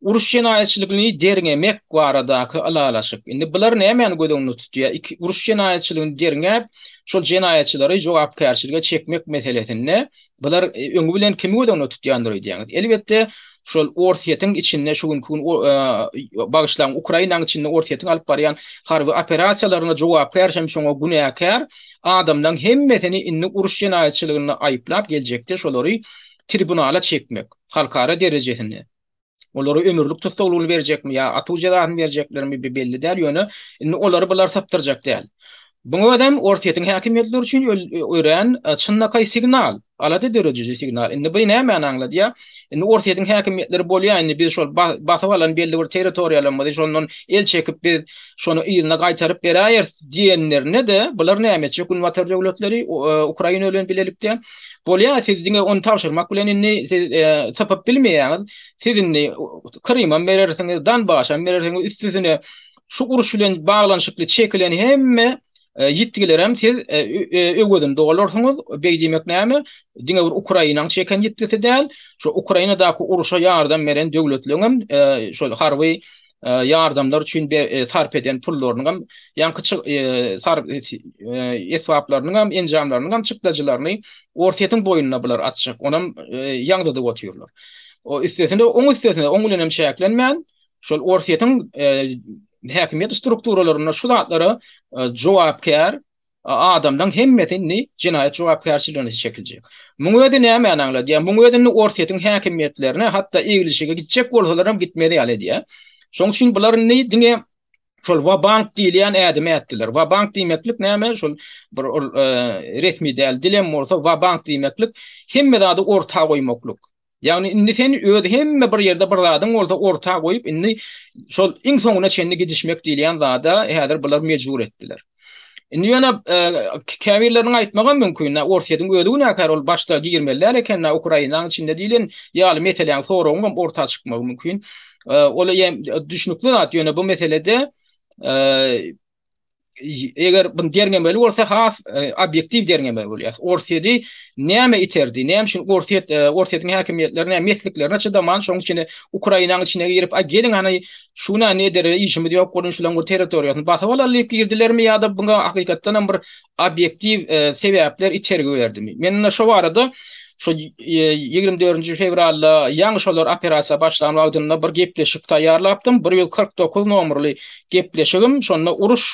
Uruş jenaýatçylygyny derňemek baradaky ylalaşyk. Indi bular nämäni göz öňünde tutýar? Iki, uruş jenaýatçylygyny derňäp, şol jenaýatçylary jogapkärçilige çekmek meselesinde bular öňi bilen kimi göz öňünde tutýandyr öýdýäňiz? Elbetde, şol Orsýetiň içinde şu günki gün bagyşlaň, Ukrainanyň içinde Orsýetiň alyp barýan harby operasiýalaryna jogapkär hem şoňa günäkär adamlaryň hemmesini indi uruş jenaýatçylygynda aýyplap geljekde şolary tribunala çekmek, halkara derejesinde. Olara ömürlik tussaglygyny berjekmi ýa atuw jezasyny berjeklermi bi belli däl, ýöne indi olary bular sypdyrjak däl. Buň özem Orsýetiň häkimiýetleri üçin örän çynlakaý signal, alada dörediji signal. Indi bi nämäni aňladýar? Indi Orsýetiň häkimiýetleri bolýa indi biz şol basyp alan belli bir territoriýalarymyzy şondan el çekip biz şony yzyna gaýtaryp beräýeris diýenlerinde-de bular näme etjek günbatar döwletleri Ukraina bilen bilelikde? Bolýa siz diňe ony tabşyrmak bilen indi siz sypyp bilmeýäňiz. Siz indi Krymam berersiňiz, Donbaşam berersiňiz, üstesine şu uruş bilen baglanyşykly çekilen hemme ýitgilerem siz öwezini dolarsyňyz. Beý diýmek näme? Diňe bir Ukrainanyň çeken ýitgisi däl, şu Ukrainadaky urşa ýardam beren döwletleňem şol harby ýardamlar üçin sarp eden pullarynyň hem ýaňky esbaplarynyň hem enjamlarynyň hem çykdajylaryny Orsýetiň boýnuna bular atjak, onam ýaňzydyp otyrlar. Üstesine oň üstesine oň bilenem çäklenmän şol Orsýetiň häkimiýet strukturalaryna şu zatlara jogapkär adamlaň hemmesi indi jenaýat jogapkärçiligine çekiljek. Muň özi nämäni aňladýar? Muň özi indi Orsýetiň häkimiýetlerine hatda eglişige gitjek bolsalaram gitmez ýaly edýär. Şoň üçin bular indi diňe şol wabank diýilýän ädimi ätdiler. Wabank diýmeklik näme? Şol bir ol resmi däl dilem bolsa wabank diýmeklik hemme zady orta goýmaklyk. Ýagny indi sen öz hemme bir ýerde bir zadyň bolsa orta goýup indi şol iň soňuna çenli gidişmek diýilýän zada häzir bular mejbur etdiler. Indi ýöne e, käbirleriniň aýtmagy mümkin, Orsýetiň özi günäkär, ol başda girmeli däl eken, Ukrainanyň içinde diýlen ýaly meseläň soragyň hem orta çykmagy mümkin. E, ol hem düşnükli zat, ýöne bu meselede e, eger bu derňemeli bolsa has e, obýektiw derňeme bolýar. Orsýedi näme iterdi? Näme üçin Orsýet e, Orsýetiň häkimiýetleri näme mesliklerine çydaman, şoň üçin Ukrainanyň içine girip, a geliň hani şu näme edere işimiz ýok, gurun şulaň bir territoriýasyny basyp alar diýip girdilermi ýa-da buňa hakykatdan hem bir obýektiw sebäpler itergi berdi. Men indi şo barada şu ýigrimi dördünji fewralda ýaňy şolar operasiýa başlan wagtynda bir gepleşik taýýarlapdym, bir ýüz kyrk dokuz nomerli gepleşigim, şonda uruş,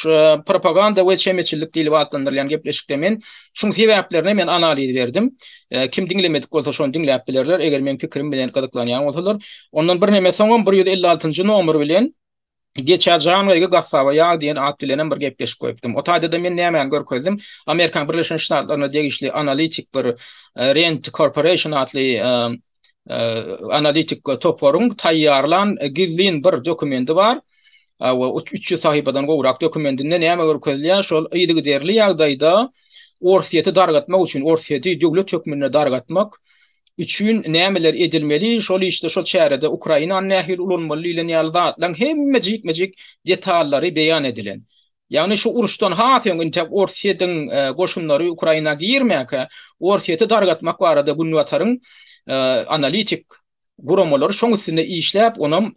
propaganda we çemeçillik diýlip atlandyrylýan gepleşikde men şuň sebäplerine men analiz berdim. Kim diňlemedik bolsa şony diňläp bilerler, eger meň pikirim bilen gyzyklanýan bolsalar. Ondan birneme soňam bir ýüz elli altynjy nomer bilen, Geçä Jangaýgy gassaba ýag diýen at bilenem bir gepleşik goýupdym. O taýda-da men nämäni görkezdim? Amerikanyň Birleşen Ştatlaryna degişli analitik bir Rent Corporation atly analitik toparyň taýýarlan gizlin bir dokumendi bar. Awa, üç ýüz sahypadan gowrak dokumendinde näme görkezilýär? Şol yzygiderli ýagdaýda Orsýeti dargatmak üçin, Orsýeti döwlet hökmünde dargatmak, üçin nämeler edilmeli, şol işde, şol çärede Ukrainany nähili ulanmaly diýlen ýaly zatlaryň hemme jikme-jik detallary beýan edilen. Ýagny şu uruşdan has öň intäk Orsýetiň goşunlary Ukraina girmäkä Orsýeti dargatmak barada Günbataryň analitik guramalary şoň üstünde işläp onam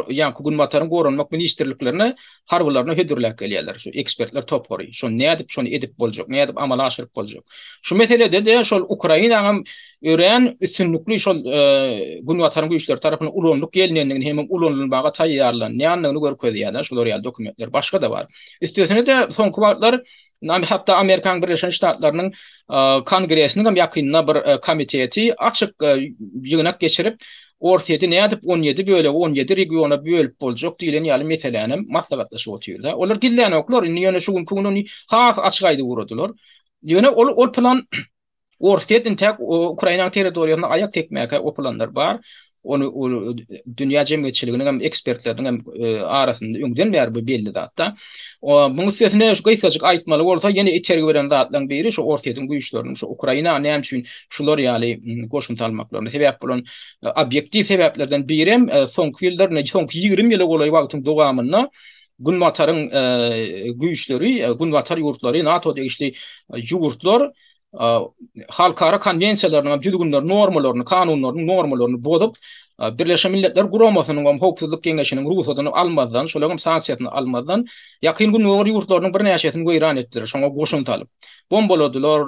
ýaňky Günbataryň goranmak ministrliklerine harbylaryny hödürläp gelýärler. Şu ekspertler topary. Şony nädip şony edip boljak, nädip amala aşyryp boljak. Şu meselede-de şol Ukrainanyň hem örän üstünlikli şol Günbataryň güýçleri tarapyndan ulanylyp gelnendigini hem ulanylmaga taýýarlanýandygyny görkezýär-de şular ýaly dokumentler. Başga-da bar. Üstesine-de soňky wagtlar Hatda Amerikanyň Birleşen Ştatlarynyň Kongresiniň hem ýakynda bir komiteti açyk ýygnak geçirip, Orsýeti nädip on ýedi bölege, on ýedi regiona bölüp boljak diýlen ýaly meseläni hem maslahatlaşyp otyrlar. Olar gizlänoklar, indi ýöne şu günki gün ony has açyk aýdyp ugradylar. Ýöne ol plan Orsýet intäk Ukrainanyň territoriýasyna aýak tekmäge gopulanlar bar. Ony dünýä jemgyýetçiliginiň hem ekspertleriniň hem e, arasynda öňden bäri bu belli zatda. Muň üstesine şu gysgajyk aýtmaly bolsa, ýene itergi beren zatlaryň biri şu Orsýetiň güýçleriniň şu Ukraina näme üçin şular ýaly goşunty almaklaryna sebäp bolan e, obýektiw sebäplerden biri hem e, soňky ýyllar, soňky 20 ýyla golaý wagtyň dowamynda Günbataryň güýçleri, Günbatar ýurtlary, NATO degişli ýurtlar halkara konwensiýalarynyň hem düzgünlerini, normalaryny, kanunlaryny, normalaryny bozup, Birleşen Milletler Guramasynyň hem Howpsuzlyk Geňeşiniň rugsadyny almazdan, şolaryň hem sanksiýasyny almazdan, Ýakyn Gündogar ýurtlarynyň birnäçesini weýran etdiler, şoňa goşun salyp. Bombaladylar,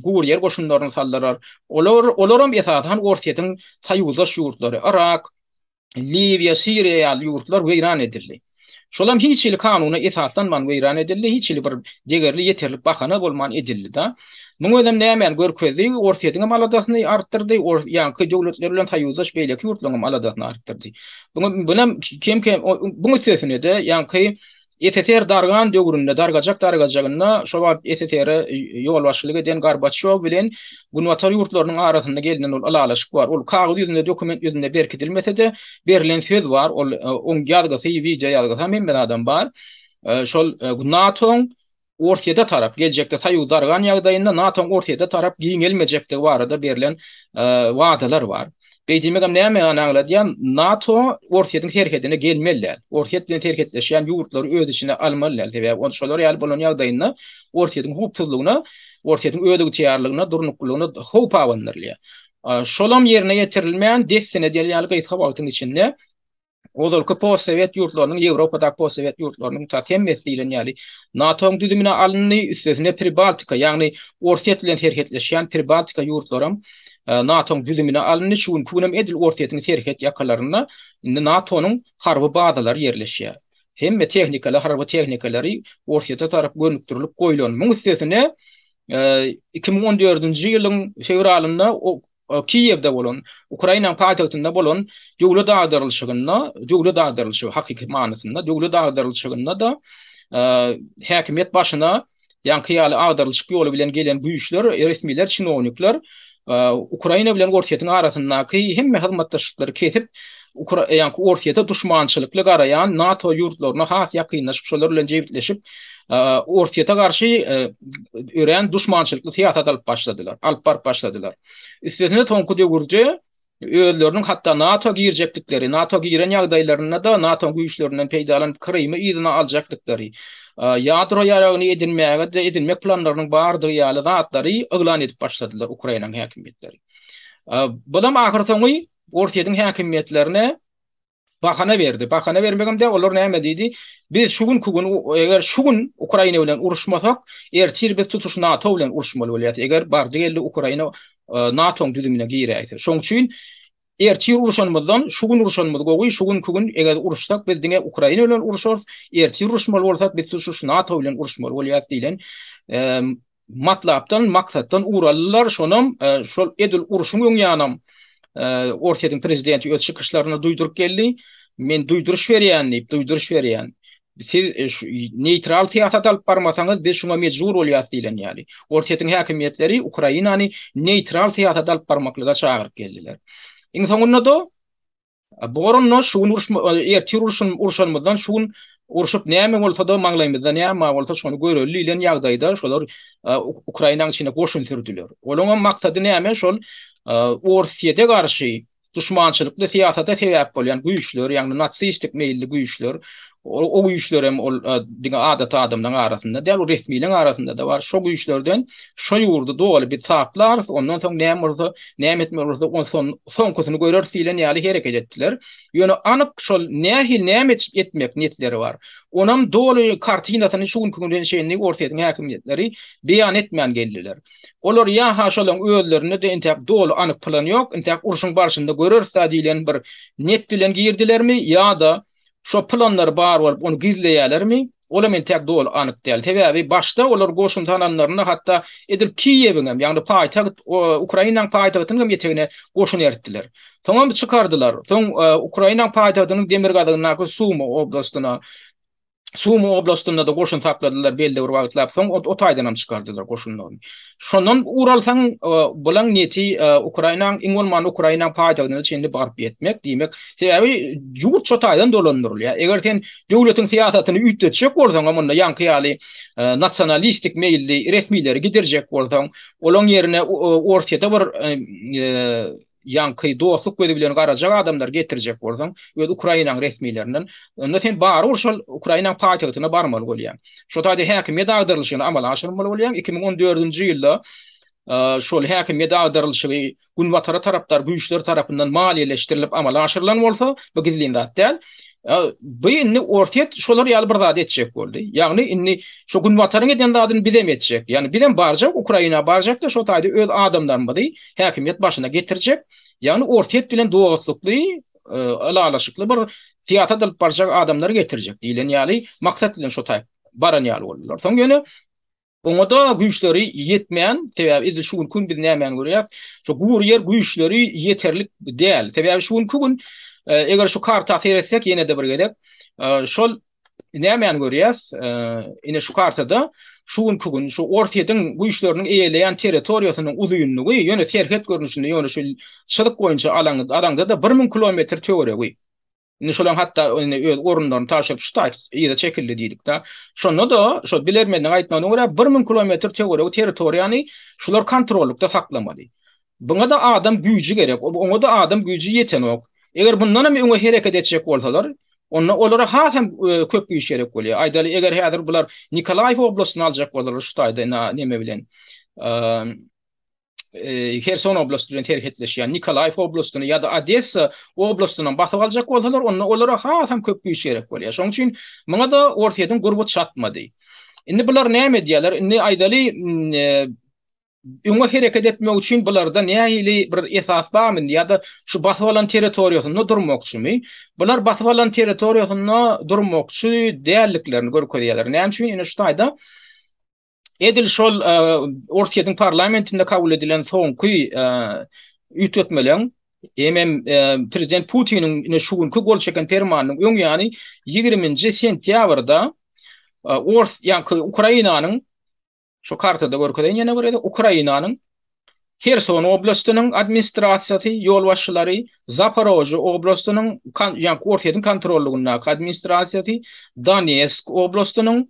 guryýer goşunlaryny saldylar. Olar, olar hem esasan Orsýetiň soýuzdaş ýurtlary, Yrak, Liwiýa, Siriýa ýaly ýurtlar weýran edildi. Şolam hiç hili kanuna esaslanman weýran edildi, hiç hili bir degerli ýeterlik bahana bolman edildi-de. Muň özem nämäni görkezdi? Orsýetiňem aladasyny artdyrdy, ors ýaňky döwletler bilen soýuzdaş beýleki ýurtlaryňam aladasyny artdyrdy. Buňa bunem kem-kem buň üstesine-de ýaňky SSR dargan döwründe, dargajak dargajagynda, şo wagt SSR-e ýolbaşçylyk eden Gorbaçýow bilen Günbatar ýurtlarynyň arasynda gelnen ol ylalaşyk bar. Ol kagyz ýüzünde, dokument ýüzünde berkidilmese-de, berilen söz bar, ol oň ýazgysy, wideoýazgysy, hem hemme zadam bar. Şol NATO-nyň Orsýete tarap, geljekde soýuz dargan ýagdaýynda NATO-nyň Orsýete tarap giňelmejekdigi barada berlen wadalar bar. Beýdemegem näme ony aňladýar? NATO Orsýetiň serhedine gelmeli däl. Orsýet bilen serhetleşýän ýurtlary öz içine almaly däl. Sebäbi ol şolar ýaly bolan ýagdaýynda Orsýetiň howpsuzlygyna, Orsýetiň özygtyýarlygyna, durnuklylygyna howp abandyrylýar. Şolam ýerine ýetirilmän dessine däl ýaly gysga wagtyň içinde Ozalky postsowet ýurtlarynyň, Ýewropadaky postsowet ýurtlarynyň tas hemmesi diýlen ýaly NATO-nyň düzümine alyndy, üstesine Pribaltika, ýagny Orsýet bilen serhetleşýän Pribaltika ýurtlaram NATO-nyň düzümine alyndy, şu günki günem edil Orsýetiň serhet ýakalarynda indi NATO-nyň harby bazalary ýerleşýär. Hemme tehnikalar, harby tehnikalary Orsýete tarap gönükdirilip goýlan. Muň üstesine iki müň on dördünji ýylyň fewralynda Kiýewde bolan, Ukrainanyň paýtagtynda bolan döwlet agdarylşygynda, döwlet agdarylşygy, hakyky manysynda, döwlet agdarylşygynda-da häkimiýet başyna ýaňky ýaly agdarylşyk ýoly bilen gelen güýçler, resmiler, çinownikler Ukraina bilen Orsýetiň arasyndaky hemme hyzmatdaşlyklary kesip, Ukra ýa-da Orsýete duşmançylykly garaýan NATO ýurtlaryna has ýakynlaşyp, şolar bilen jebisleşip, Orsýete garşy örän duşmançylykly syýasat alyp başladylar, alyp baryp başladylar. Üstesine soňky döwürde özleriniň hatda NATO girjekdikleri, NATO giren ýagdaýlarynda-da NATO güýçlerinden peýdalanyp Krymy yzyna aljakdyklary, ýadro ýaragyny edinmäge de edinmek planlarynyň bardygy ýaly zatlary yglan edip başladylar Ukrainanyň häkimiýetleri. Bulam ahyrsoňy Orsýetiň häkimiýetlerine bahana berdi. Bahana bermegem däl, olar näme diýdi? Biz şu günki gün, eger şu gün Ukraina bilen uruşmasak, ertir biz tutuş NATO bilen uruşmaly bolýarys, eger bardy-geldi Ukraina NATO-nyň düzümine giräýse. Şonuň üçin ertir uruşanymyzdan şu gün uruşanymyz gowy, şu günki gün eger uruşsak, biz diňe Ukraina bilen uruşarys, ertir uruşmaly bolsak, biz tutuş NATO bilen uruşmaly bolýarys diýlen matlapdan, maksatdan ugur aldylar, şonam şol edil urşuň öň ýanam Orsýetiň prezidenti öz çykyşlarynda duýduryp geldi, men duýduryş berýän diýip, duýduryş berýän. Siz neýtral syýasat alyp barmasaňyz, biz şuňa mejbur bolýarys diýlen ýaly. Orsýetiň häkimiýetleri Ukrainany neýtral syýasat alyp barmaklyga çagyryp geldiler. Iň soňunda-da Bu garyndaş şu gün uruşma, ertir uruşun, uruşanymyzdan şu gün urşup näme bolsa-da maňlaýymyzda näme bar bolsa şony göreli diýlen ýagdaýda şolar Ukrainanyň içine goşun sürdüler. Olaryň hem maksady näme şol Orsýete garşy duşmançylykly syýasata sebäp bolýan güýçler, ýagny natsistik meýilli güýçler, O güýçlerem ol diňe adaty adamlaryň arasynda däl, ol resmileriň arasynda-da bar. Şo güýçlerden şo ýurdy doly biz taplarys, ondan soň näme bolsa, näme etmeli bolsa, onsoň soňkusyny göreris diýlen ýaly hereket etdiler. Ýöne anyk şol nähili, näme etmek niýetleri bar, onam doly kartinasyny şu günki güne çenli Orsýetiň häkimiýetleri beýan etmän geldiler. Olar ýa-ha şolaryň özlerinde-de entäk doly anyk plan ýok, entäk urşuň barşynda göreris-ä diýlen bir niýet bilen girdilermi ýa-da Şo planlary bar bolup, ony gizleýälermi? Olam entäk doly anyk däl. Sebäbi başda olar goşun salanlarynda hatda edil Kiýewiň hem, ýagny paýtagt Ukrainanyň paýtagtynyň hem etegine goşun eritdiler. Soňam çykardylar. Soň Ukrainanyň paýtagtynyň demirgazygyndaky Sumy oblastyna, Sumy oblastynda-da goşun sakladylar belli bir wagtlap. Soň o taýdanam çykardylar goşunlaryny. Şondan ugur alsaň, bulaň niýeti Ukrainanyň, iň bolmanda Ukrainanyň paýtagtyna çenli baryp ýetmek, diýmek, sebäbi ýurt şo taýdan dolandyrylýar. Eger sen döwletiň syýasatyny üýtgetjek bolsaňam, onda ýaňky ýaly nasionalistik meýilli resmileri gidirjek bolsaň, olaň ýerine Orsýete bir Ýaňky dostluk gözi bilen garajak adamlary getirjek bolsaň, öz Ukrainaň resmilerinden, onda sen barybir şol Ukrainaň paýtagtyna barmaly bolýaň. Şo taýda häkimiýet agdarylyşyny amala aşyrmaly bolýaň. Iki müň on dördünji ýylda şol häkimiýet agdarylyşygy Günbatara tarapdar güýçler tarapyndan maliýeleşdirilip amala aşyrylan bolsa, bu gizlin zat däl. Bu indi Orsýet şolar ýaly bir zat etjek boldy. Ýagny indi şu Günbataryň eden zadyny bizem etjek. Ýagny bizem barjak Ukraina barjak-da şo taýda öz adamlarymyzy häkimiýet başyna getirjek, ýagny Orsýet bilen dostlukly, ylalaşykly bir syýasat alyp barjak adamlary getirjek diýlen ýaly maksat bilen şo taýyp baran ýaly boldular. Soň ýöne oňa-da güýçleri ýetmeýän, sebäbi edil şu günki biz nämäni görýäs, şu gury ýer güýçleri ýeterlik däl. Sebäbi şu günki gün eger şu karta seretsek ýene-de bir gezek, şol Nämäni görýäs? Ine şu kartada şu günki gün şu Orsýetiň güýçleriniň eýeleýän territoriýasynyň uzynlygy, ýöne serhet görnüşinde, ýöne şu çyzyk boýunça alaňda-da bir müň kilometr töweregi. Indi şolaň hatda indi öz orunlaryny tabşyryp şu taýt yza çekildi diýdik-de. Şonda-da şo bilermenleriň aýtmagyna görä, bir müň kilometr töweregi territoriýany şular kontrollykda saklamaly. Buňa-da adam güýji gerek, oňa-da adam güýji ýetenok. Eger bundanam öňe hereket etjek bolsalar, onda olara hasam köp güýç gerek bolýar. Aýdaly, eger häzir bular Nikolaýew oblastyny aljak bolsalar şu taýda näme bilen, Herson oblasty bilen serhetleşýän Nikolaýew oblastyny ýa-da Odessa oblastyny basyp aljak bolsalar, onda olara hasam köp güýç gerek bolýar. Şonuň üçin muňa-da Orsyýetiň gurby çatmady. Indi bular näme edýärler? Indi aýdaly, Öňe hereket etmek üçin bularda nähili bir esas barmy indi ýa-da şu basyp alan territoriýasynda durmakçymy? Bular basyp alan territoriýasynda durmakçy däldiklerini görkezýärler. Näme üçin? Ine şu taýda edil şol e, Orsýetiň parlamentinde kabul edilen soňky e, üýtgetmeleň hem hem e, prezident Putiniň ine şu günki gol çeken permanynyň öň ýany 20-nji sentýabrda Ors, ýa-da Ukrainanyň Şu kartada görkezen ýene bir ýeri Ukrainanyň Herson oblastynyň administrasiýasy ýolbaşçylary, Zaporožýe oblastynyň, ýagny Orsýetiň kontrollygyndaky administrasiýasy, Donetsk oblastynyň,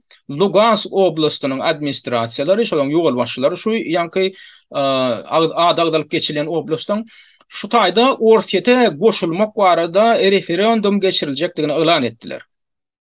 Lugansk oblastynyň administrasiýalary, şolaryň ýolbaşçylary şu ýaňky ady agzalyp geçilýän oblastyň şu taýda Orsýete goşulmak barada referendum geçiriljekdigini yglan etdiler.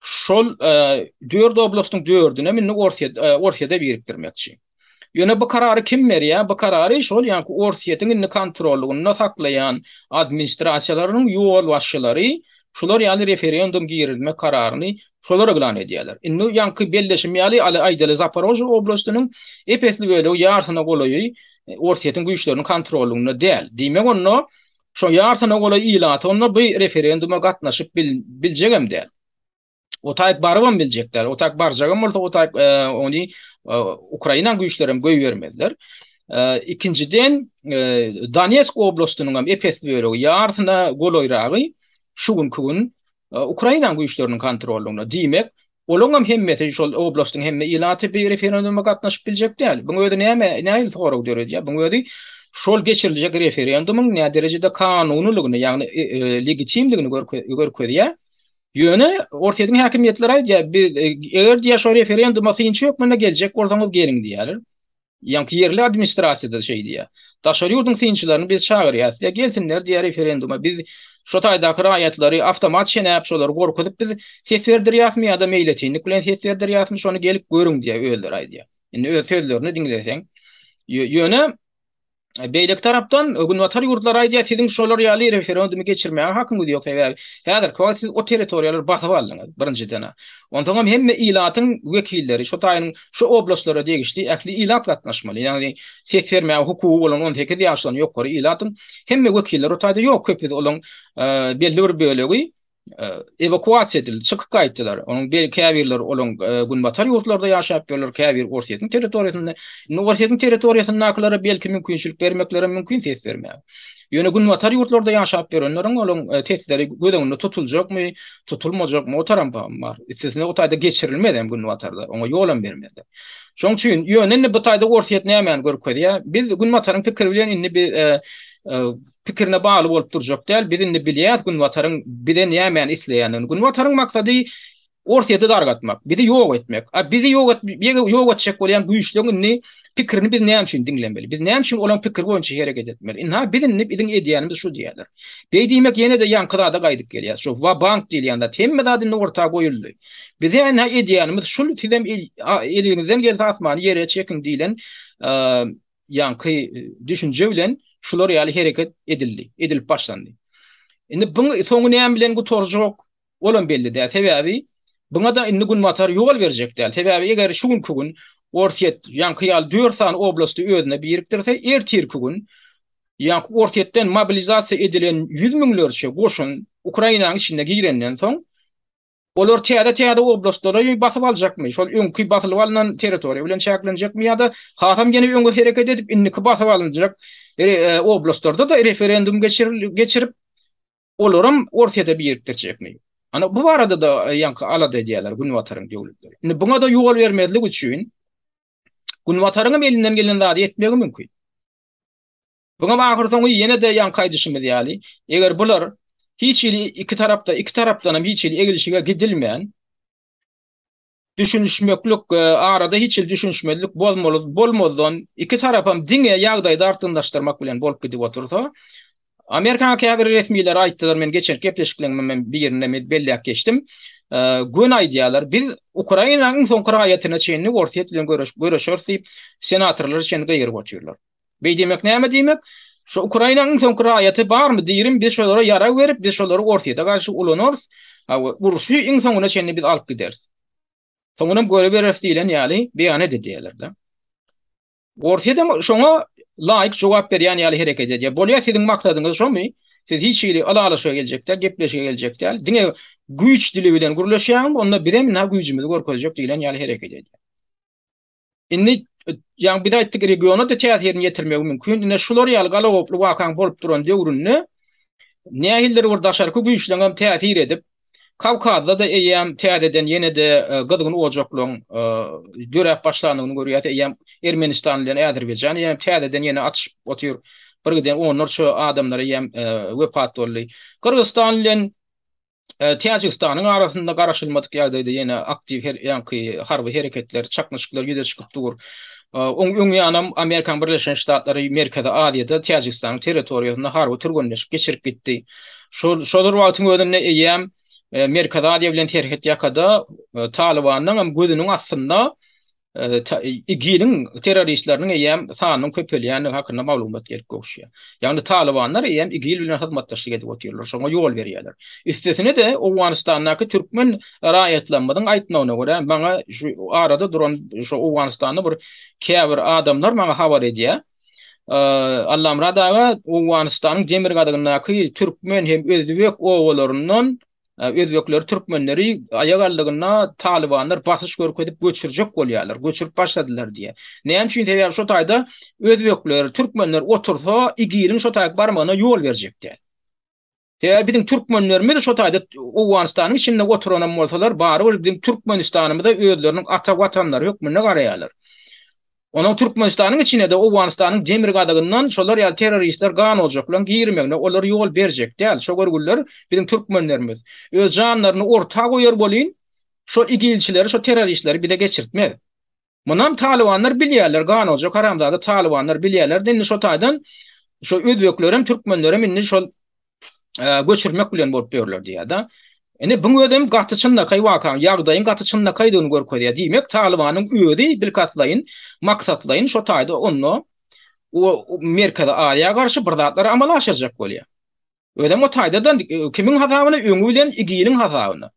Şol dört oblastyň dördüne indi Orsýet Orsýete birikdirmekçi. Ýöne bu karary kim berýär? Bu karary şol ýaňky Orsýetiň indi kontrollygynda saklaýan administrasiýalarynyň ýolbaşçylary şular ýaly referendum girizmek kararyny şolar yglan edýärler. Indi ýaňky belleşim ýaly aly aýdaly Zaparožýe oblastynyň ep-esli bölegi ýarsyna golaýy Orsýetiň güýçleriniň kontrollygynda däl. Diýmek onda Şoň ýarsyna golaý ilaty onda bu referenduma gatnaşyp biljegem däl. O taýyp barybam biljek däl. O taýyp barjagam bolsa, o taýyp ony Ukraina güýçlerem goýbermezler. Ikinjiden, Donetsk oblastynyňam epes bölegi, ýarsyna golaýragy şu günki gün Ukraina güýçleriniň kontrolynda. Diýmek, olaňam hemmesi şol oblastyň hemme ilaty bi referenduma gatnaşyp biljek däl. Buň özi näme, nähili sorag döredýär? Buň özi şol geçiriljek referendumyň näderejede kanunylygyny, ýagny legitimligini görkezýär. Ýöne Orsýetiň häkimiýetleri aýdýar, biz eger diýýär şo referenduma synçy hökmünde geljek bolsaňyz geliň diýýärler. Ýaňky ýerli administrasiýada şeý diýýär. Daşary ýurduň synçylaryny biz çagyrýas. Ýa gelsinler diýýär referenduma. Biz şo taýdaky raýatlary awtomat çenäp şolary gorkuzyp biz ses berdirýäsmi ýa-da meýletinlik bilen ses berdirýäsmi şony gelip görüň diýýär özleri aýdýar. Indi öz sözlerini diňleseň ýöne Beýleki tarapdan Günbatar ýurtlary aýdýar, siziň şolar ýaly referendumy geçirmäge hakyňyz ýok, sebäbi häzirki wagt siz o territoriýalary basyp aldyňyz, birinjiden-ä. Onsoňam hemme ilatyň wekilleri, şo taýynyň şo oblastlara degişli ähli ilat gatnaşmaly, ýagny ses bermäge hukugy bolan on sekiz ýaşdan ýokary ilatyň hemme wekilleri o taýda ýok, köpüsi olaň belli bir bölegi ewakuasiýa edildi, çykyp gaýtdylar. Onuň bir käbirleri olaň günbatar ýurtlarda ýaşap ýörler, käbiri Orsýetiň territoriýasynda. Indi Orsýetiň territoriýasyndakylara belki mümkinçilik bermeklerem mümkin ses bermäge. Ýöne günbatar ýurtlarda ýaşap ýörenleriň olaň sesleri göz öňünde tutuljakmy, tutulmajakmy, otaram pahym bar. Üstesine o taýda geçirilmezem günbatarda, oňa ýolam bermezler. Şoň üçin ýöne indi bu taýda Orsýet nämäni görkezýär? Biz günbataryň pikiri bilen indi biz pikirine bagly bolup durjak däl. Biz indi bilýäs Günbataryň bizden nämäni isleýändigini. Günbataryň maksady Orsýeti dargatmak, bizi ýok etmek. A bizi ýok etmek, ýok etjek bolýan güýçleriň indi pikirini biz näme üçin diňlemeli? Biz näme üçin olaryň pikiri boýunça hereket etmeli? Ynha, biz indi biziň edýänimiz şu diýýärler. Beý diýmek ýene-de ýaňky zada gaýdyp gelýär. Şu wa-bank diýilýän zat. Hemme zat indi orta goýuldy. Bize indi edýänimiz şul, sizem eliňizden gelse asmany ýere çekiň diýlen ýaňky düşünje bilen şular ýaly hereket edildi, edilip başlandy. Indi bu soňy näme bilen gutarjak? Olam belli däl. Sebäbi Buňa da indi günbatar ýol berjek däl. Sebäbi eger şu günki gün Orsyýet ýaňky ýaly 4 sany oblasty özüne birikdirse, ertirki gün ýaňky Orsyýetden mobilizasiýa edilen 100 müňlerçe goşun Ukrainanyň içine girenden soň Olar täze-täze oblastlary basyp aljakmy, şol öňki basylyp alnan territoriýa bilen çäklenjekmi ýa-da hasam ýene öňe hereket edip, indiki basyp alynjak oblastlarda-da referendum geçirip, olaram Orsýete birip geçjekmi? Ana, bu barada-da ýaňky alada edýärler Günbataryň döwletleri. Indi buňa-da ýol bermezlik üçin Günbataryňam elinden gelen zady etmegi mümkin. Muňam ahyrsoňy ýene-de ýaňky aýdyşymyz ýaly, eger bular hiç hili iki tarapda, iki tarapdanam hiç hili eglişige gidilmän, düşünişmeklik, arada hiç hili düşünişmezlik bozmaly bolmazdan, iki tarapam diňe ýagdaýy dartgynlaşdyrmak bilen bolup gidip otursa, Amerikanyň käbir resmileri aýtdylar, men geçenki gepleşiklerimem birinde men belläp geçdim, göni aýdýarlar, biz Ukrainanyň iň soňky raýatyna çenli Orsýet bilen göreşeris diýip, senatorlar çenli gygyryp otyrlar. Beý diýmek näme diýmek? Şu Ukrainanyň iň soňky raýaty barmy diýirin, biz şolara ýarag berip, biz şolary Orsýede garşy ulanarys, urşy iň soňuna çenli biz alyp gideris. Soňunam görübereris diýlen ýaly beýan edidýäler-de. Orsýedem şoňa laýyk jogap berýän ýaly hereket edýär. Bolýa siziň maksadyňyz şomy? Siz hiç hili ylalaşyga geljek däl, gepleşige geljek däl. Diňe güýç dili bilen gürleşýäňmi, onda bizem ynha güýjümizi görkezjek diýlen ýaly hereket edýär. Indi ýa biz aýtdyk regiona da täsirini ýetirmegi mümkin. Ine şular ýaly galagoply wakaň bolup duran döwründe nähildir bir daşarky güýçleň hem täsir edip, Kawkazda da eýýäm täzeden ýene-de e, gyzgyn ojaklaryň e, döräp başlandygyny görýäs. Eýýäm Ermenistan bilen Azerbaýjan eýýäm täzeden ýene atyşyp otyr. Bir giden onlarça adamlar eýýäm e, wepat boldy. Gyrgyzstan bilen Täjigistanyň arasynda garaşylmadyk ýagdaýda ýene aktiw her ýanky harby hereketler, çaknyşyklar ýüze çykyp dur. Oň öň ýanam Amerikanyň Birleşen Ştatlary Merkezi Aziýada Täjigistanyň territoriýasynda harby türgenleşik geçirip gitdi. Şol şol bir wagtyň özünde eýýäm Merkezi Aziýa bilen serhet ýakada Talybandan hem gözüniň astynda IGIL-iň terroristleriniň eýýäm sanynyň köpelýändigi hakynda maglumat gelip gowuşýar. Ýagny talybanlar eýýäm IGIL bilen hyzmatdaşlyk edip otyrlar, şoňa ýol berýärler. Üstesine-de, Owganystandaky türkmen raýatlarymyzyň aýtmagyna görä, maňa şu arada duran şu Owganystanly bir käbir adamlar maňa habar edýär, Allamyrat aga, Owganystanyň demirgazygyndaky türkmen hem özbek obalaryndan özbekleri, türkmenleri aýak aldygyna talybanlar basyş görkezip göçürjek bolýarlar, göçürip başladylar diýýär. Näme üçin? Sebäbi şu taýda özbekler, türkmenler otursa, igiriň şu taýa barmagyna ýol berjek däl. Sebäbi biziň türkmenlerimiz şu taýda Owganystanyň içinde oturan hem bolsalar, barybir biziň Türkmenistanymyza özleriniň ata watanlary hökmünde garaýarlar. Onuň Türkmenistanyň içine-de Owganystanyň demirgazygyndan şolar ýaly terroristler gan oljak bilen girmegine olar ýol berjek däl. Şo görgüliler biziň türkmenlerimiz. Öz janlaryny orta goýar bolyn, şo igilçileri, şo terroristleri bize geçirtmez. Munam talybanlar bilýärler, gan oljak haramzada talybanlar bilýärler-de indi şo taýdan şo özbeklerem, türkmenlerem indi şol göçürmek bilen bolup ýörler diýýär-de. Indi bu özem gaty çynlakaý wakaň, ýagdaýyň gaty çynlakaýdygyny görkezýär. Diýmek, Talybanyň özi bilkastlaýyn, maksatlaýyn şo taýda onda Merkezi Aziýa garşy bir zatlar amala aşyrjak bolýar. Özem o taýda-da kimiň hasabyna? Öňi bilen IGIL-iň hasabyna.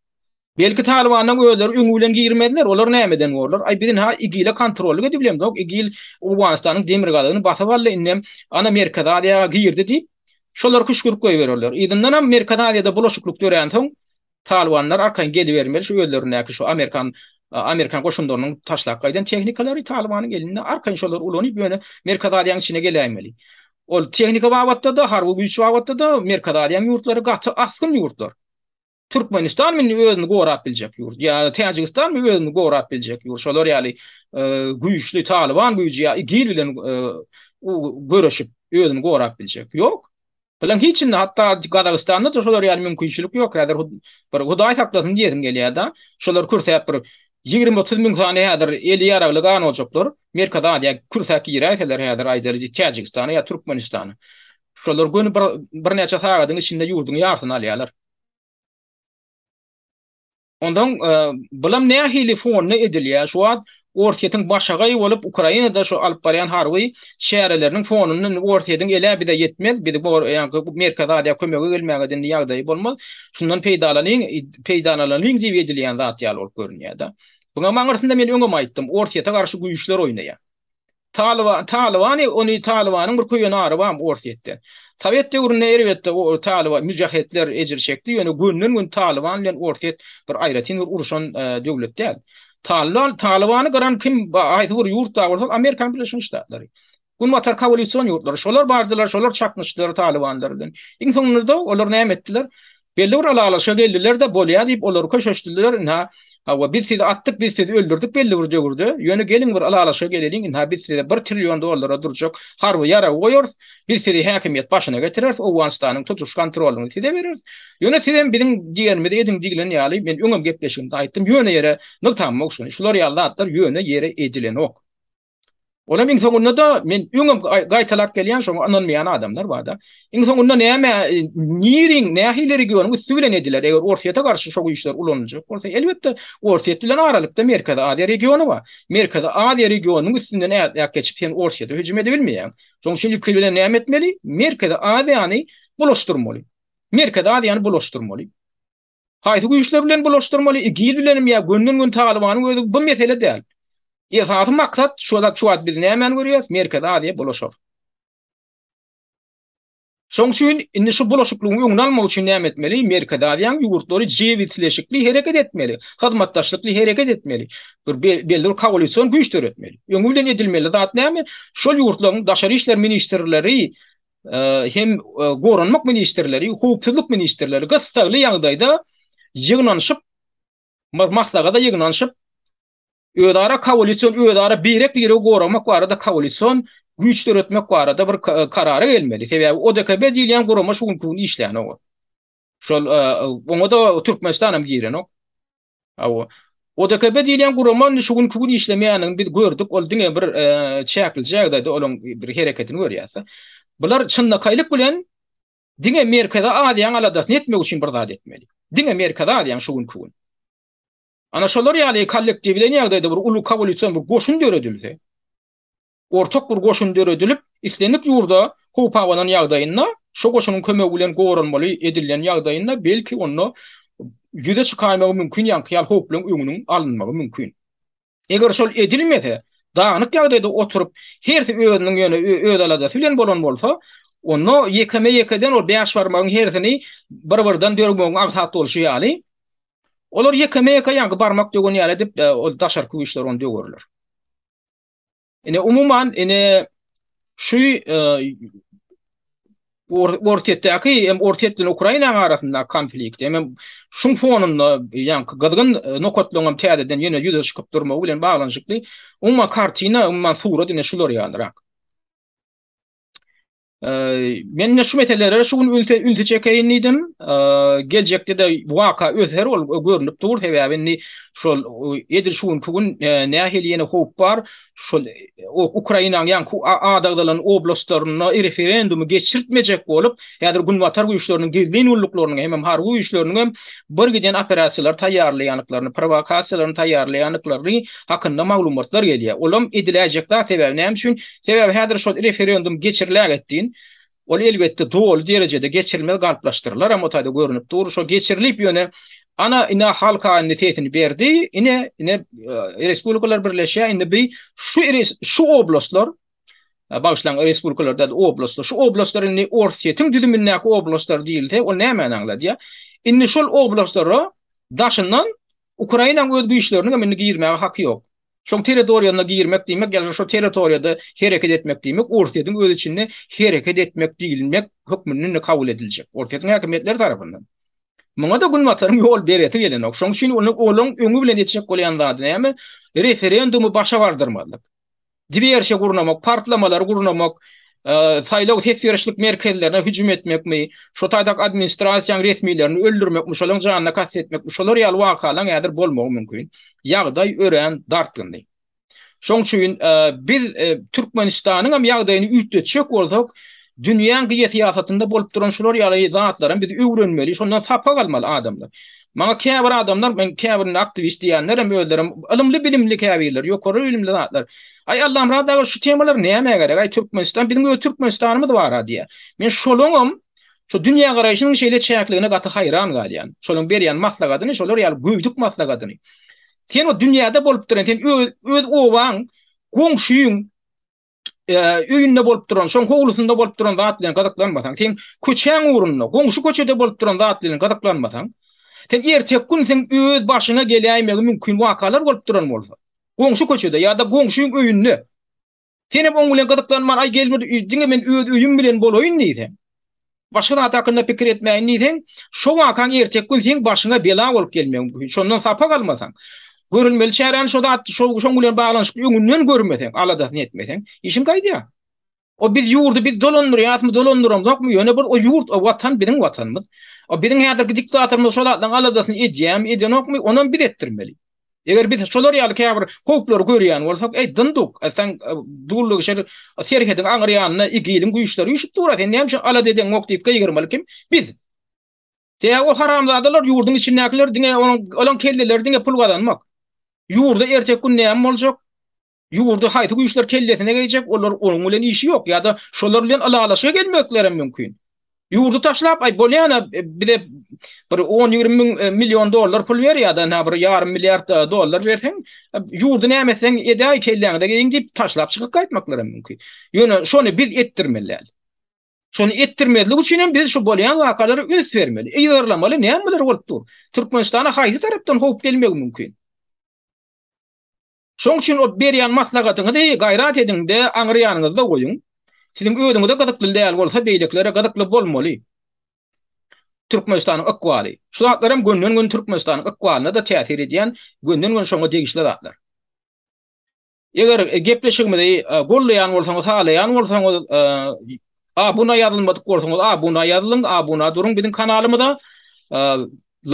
Belki Talybanlaň özleri öňi bilen girmezler, olar nämeden borlar? Aý bizin-ha igile kontrollyk edip bilemzok, igil Owganystanyň demirgazygyny basyp aldy, indem ana Merkezi Aziýa-a girdi diýip, şolar küşgürip goýbererler. Yzyndanam Merkezi Aziýada bulaşyklyk döränsoň, Talybanlar arkaýyn gelibermeli, şu özlerindäki şu amerikan amerikan goşunlarynyň taşlap gaýdan tehnikalary Talybanyň elinde, arkaýyn şolary ulanyp ýöne Merkezi Aziýanyň içine geläýmeli. Ol tehnika babatda-da, harby güýç babatda-da Merkezi Aziýanyň ýurtlary gaty asgyn ýurtlar. Türkmenistan indi özüni gorap biljek ýurt ýa-da Täjigistan mi özüni gorap biljek ýurt şolar ýaly güýçli Talyban güýji ýa IGIL bilen göreşip özüni gorap biljek ýok. Bilen hiç indi hatda Gazagystanda da şolar ýaly mümkinçilik ýok häzir bir Hudaý saklasyn diýesim gelýärda şolar kürsäp bir ýigrimi otuz müň sany häzir eli ýaragly gan boljaklar Merkezi Aziýa kürsäp giräýseler häzir aýdaly Täjigistana ýa Türkmenistana şolar göni bir birnäçe sagadyň içinde ýurduň ýarsyny alýarlar. Ondan bulam nähili fonda edilýär? Şu wagt Orsýetiň başagaý bolup Ukrainada şu alyp barýan harby çäreleriniň fonunda indi Orsýetiň elä bize ýetmez, bizi Merkezi Aziýa kömege gelmäge indi ýagdaýy bolmaz. Şundan peýdalanyň, peýdalanyň diýip edilýän zat ýaly bolup görünýär-de. Buňam aňyrsynda men öňem aýtdym, Orsýete garşy güýçler oýnaýar. Talyban, Talybany, ony Talybanyň bir köýen ary barmy Orsýetde. Sowet döwründe erbetde o Talyba, Müjahetler ejir çekdi, ýöne günden gün Talyban bilen Orsýet bir aýratyn bir uruşan döwlet däl. Talybany, Talybany gyran kim ba haýsy bir ýurt da bolsa ol Amerikan Birleşen Ştatlary. Günbatar kowalýusion ýurtlary. Şolar bardylar, şolar çaknyşdylar Talybanlar bilen. Iň soňunda olar näme etdiler? Belli bir ylalaşa geldiler-de, bolýa diýip, olar köşeşdiler, ynha, hawa, biz sizi atdyk, biz sizi öldürdik belli bir döwürde, ýöne geliň bir ylalaşa geleliň, ynha, biz size bir trillion dollara durjak harby ýaragy goýarys, biz sizi häkimiýet başyna getireris, Owganystanyň tutuş kontrolyny size bereris, ýöne siz hem biziň diýenimizi ediň diýlen ýaly, men öňem gepleşigimde aýtdym, ýöne ýere nygtamok şuny, şular ýaly zatlar ýöne ýere edilenok. Olam iň soňunda-da men öňem gaýtalap gelýän şoňa ynanmaýan adamlar bar-da. Iň soňunda näme niriň nähili regionyň üsti bilen ediler? Eger Orsýete garşy şo güýçler ulanyljak bolsa, elbetde Orsýet bilen aralykda Merkezi Aziýa regiony bar. Merkezi Aziýa regionynyň üstünden ätläp geçip sen Orsýete hüjüm edebilmeýäň. Şoň üçin ilki bilen näme etmeli? Merkezi Aziýany bulaşdyrmaly. Merkezi Aziýany bulaşdyrmaly. Haýsy güýçler bilen bulaşdyrmaly, igil bilenim ýa günden gün Talybanyň özi bu mesele däl. Esasy maksat şu zat şu wagt biz nämäni görýäs Merkezi Aziýa bulaşar. Şoň üçin indi şu bulaşyklygyň öňüni almak üçin näme etmeli Merkezi Aziýanyň ýurtlary jebisleşikli hereket etmeli, hyzmatdaşlykly hereket etmeli. Bir belli bir kowalision güýç döretmeli. Öňi bilen edilmeli zat näme şol ýurtlaryň daşary işler ministrleri hem goranmak ministrleri, howpsuzlyk ministrleri gyssagly ýagdaýda ýygnanyşyp, maslahata ýygnanyşyp, özara koalision, özara birek-biregi goramak barada koalision güýç döretmek barada bir karara gelmeli. Sebäbi ODKB diýilýän gurama şu günki gün işlänok. Şol oňa-da Türkmenistan hem girenok. Hawa. ODKB diýilýän gurama indi şu günki gün işlemeýändigini biz gördük. Ol diňe bir çäkli jagdaýda olaň bir hereketini görýäs-de. Bular çynlakaýlyk bilen diňe Merkezi Aziýaň aladasyny etmek üçin bir zat etmeli. Diňe Merkezi Aziýaň şu günki gün. Ana şolar ýaly kollektiwleýin ýagdaýda bir uly kowalýusion bir goşun döredilse, Ortak bir goşun döredilip, islendik ýurda howp abanan ýagdaýynda, şo goşunyň kömegi bilen goranmaly edilýän ýagdaýynda, belki, onda ýüze çykaýmagy mümkin ýaňky ýaly howplaryň öňüniň alynmagy mümkin. Eger şol edilmese, dagnyk ýagdaýda oturyp, hersi özüniň ýöne öz aladasy bilen bolan bolsa, onda ýekeme-ýekeden ol bäş barmagyň hersini bir-birden dörgmegiň aňsat bolşy ýaly, olar ýekeme-ýeke ýaňky barmak dögen ýaly edip, ol daşarky güýçler ony döwerler. Ine umuman ine şu e, Orsetdäki hem Orset bilen Ukraina arasynda konflikt hem şuň fonunda ýan gyzgyn e, nokatlaryň hem täzeden ýene ýüze çykyp durmagy bilen baglanyşykly umma kartina umma surat ine şular ýalyrak. Men şu meselelere şu gün ünse ünse çekeýin diýdim. Geljekde de bu waka öser ol görnüp dur sebäbi indi şol edil şu günki gün nähili ýene howp bar. Şol Ukrainanyň ýaňky adagdalan oblastlarynda referendumy geçirtmejek bolup, häzir günbatar güýçleriniň gizlin gulluklarynyň hem harby güýçleriniň hem bir giden operasiýalary taýýarlaýandyklaryny, prowokasiýalary taýýarlaýandyklaryny hakynda maglumatlar gelýär. Olam ediläýjek zat sebäbi näme üçin? Sebäbi häzir şol referendum geçiriläget deýin, ol elbetde doly derejede geçirilmez galplaşdyrylaram o taýda görnüp dur, şo geçirilip ýöne ana ine halk indi sesini berdi, ine ine respublikalar birleşýär, indi bi şu şu oblastlar bagyşlaň respublikalar däl oblastlar, şu oblastlar indi Orsýetiň düzümindäki oblastlar diýilse, ol nämäni aňladýar? Indi şol oblastlara daşyndan Ukrainaň öz güýçleriniň hem indi girmäge haky ýok. Şoň territoriýasyna girmek diýmek ýa-da şo territoriýada hereket etmek diýmek Orsýetiň öz içinde hereket etmek diýilmek hökmünde kabul ediljek Orsýetiň häkimiýetleri tarapyndan. Muňa-da Günbataryň ýol beresi gelenok. Şoň üçin olaň öňi bilen etjek bolýan zady näme? Referendumy başa bardyrmazlyk. Diwersiýa gurnamak, partlamalary gurnamak, saýlaw ses berişlik merkezlerine hüjüm etmekmi, şo taýdak administrasiýaň resmilerini öldürmekmi, şolaň janyna kast etmekmi, şolar ýaly wakalaň häzir bolmagy mümkin. Ýagdaý örän dartgynly. Şoň üçin biz Türkmenistanyň hem ýagdaýyny üýtgetjek bolsak, dünýäň geosyýasatynda bolup duran şular ýaly zatlaram biz öwrenmeli, şondan sapak almaly adamlar. Maňa käbir adamlar, men käbirinde aktiwist diýýänlerem özlerem ylymly-bilimli käbirleri, ýokary bilimli zatlar, Aý, Allamyrat aga, şu temalar nämä gerek, aý, Türkmenistan, biziň öz Türkmenistanymyz bar-a diýýär. Men şolaňam şu dünýägaraýşynyň şeýle çäkligine gaty haýran galýan. Şolaň berýän maslagadyny, şolar ýaly göýdük maslagadyny. Sen o dünýäde bolup duryn, sen öz obaň, goňşyň, öýünde bolup duran, şoň howlusynda bolup duran zat bilen gyzyklanmasaň, sen köçäň ugrunda, goňşy köçede bolup duran zat bilen gyzyklanmasaň, sen erteki gün sen öz başyňa geläýmegi mümkin wakalar bolup duran bolsa, goňşy köçede ýa-da goňşyň öýünde sen hem oň bilen gyzyklanman, aý gelmir, diňe men öz öýüm bilen bolaýyn diýseň, Başga zat hakynda pikir etmäýin diýseň, şo wakaň erteki gün seň başyňa bela bolup gelmegi mümkin. Şondan sapak almasaň, görülmeli çäräni şo zat, şo, şoň bilen baglanyşykly öňünden görmeseň, aladasyny etmeseň, işiň gaýdýar. O biz ýurdy biz dolandyrýasmy, dolandyramzokmy, ýöne bir o ýurt, o watan biziň watanymyz. O biziň häzirki diktatorymyz şo zatlaryň aladasyny edýärmi, edenokmy, onam biz etdirmeli. Eger biz şolar ýaly käbir howplary görýän bolsak, eý, Dynduk, sen e, dullugy şer serhediň aňyr ýanynda igiliň güýçleri üşüp dur, sen näme üçin alada edeňok diýip gygyrmaly kim? Biz. Te o haramzadalar ýurduň içindäkiler diňe onuň olaň kelleleri diňe pul gazanmak. Ýurda ertek gün näme boljak? Ýurdy haýsy güýçler kellesine geýjek, olar onuň bilen işi ýok ýa-da şolar bilen ylalaşyga gelmeklerem mümkin. Ýurdy taşlap, aý bolýana bize bir on ýigrimi müň million dollar pul ber ýa-da nä bir ýarym milliard dollar berseň, ýurdy näme etseň edäý kelläňize geýiň diýip taşlap çykyp gaýtmaklaram mümkin. Ýöne şony biz etdirmeli däl. Şony etdirmezlik üçin hem biz şu bolýan wakalara üns bermeli, yzarlamaly nämeler bolup dur. Türkmenistana haýsy tarapdan howp gelmegi mümkin. Şoň üçin o berýän maslahatyňyzy gaýrat ediň-de, aňry ýanyňyzda goýuň. Siziň özüňize gyzykly däl bolsa, beýlekilere gyzykly bolmaly. Türkmenistanyň ykbaly. Şu zatlaram günden-gün Türkmenistanyň ykbalyna-da täsir edýän, günden-gün şoňa degişli zatlar. Eger gepleşigimizi gollaýan bolsaňyz, halaýan bolsaňyz, abuna ýazylmadyk bolsaňyz, abuna ýazylyň, abuna duruň biziň kanalymyza,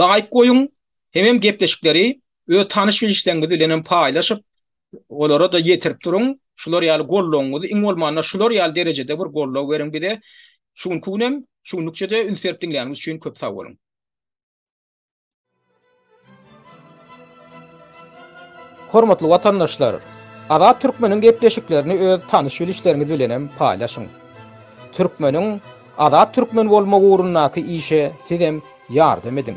laýk goýuň, hemem gepleşikleri Öz tanyş-bilişleriňiz bilen hem paýlaşyp, olara-da ýetirip duruň. Şular ýaly goldawyňyzy, iň bolmanda şular ýaly derejede bir goldaw beriň bize. Şu günki gün hem, şu günlükçe-de üns berip diňläniňiz üçin köp sag boluň! Hormatly watandaşlar! Azat Türkmeniň gepleşiklerini öz tanyş-bilişleriňiz bilen hem paýlaşyň. Türkmeniň Azat Türkmen bolmagy ugrundaky işe siz hem ýardam ediň!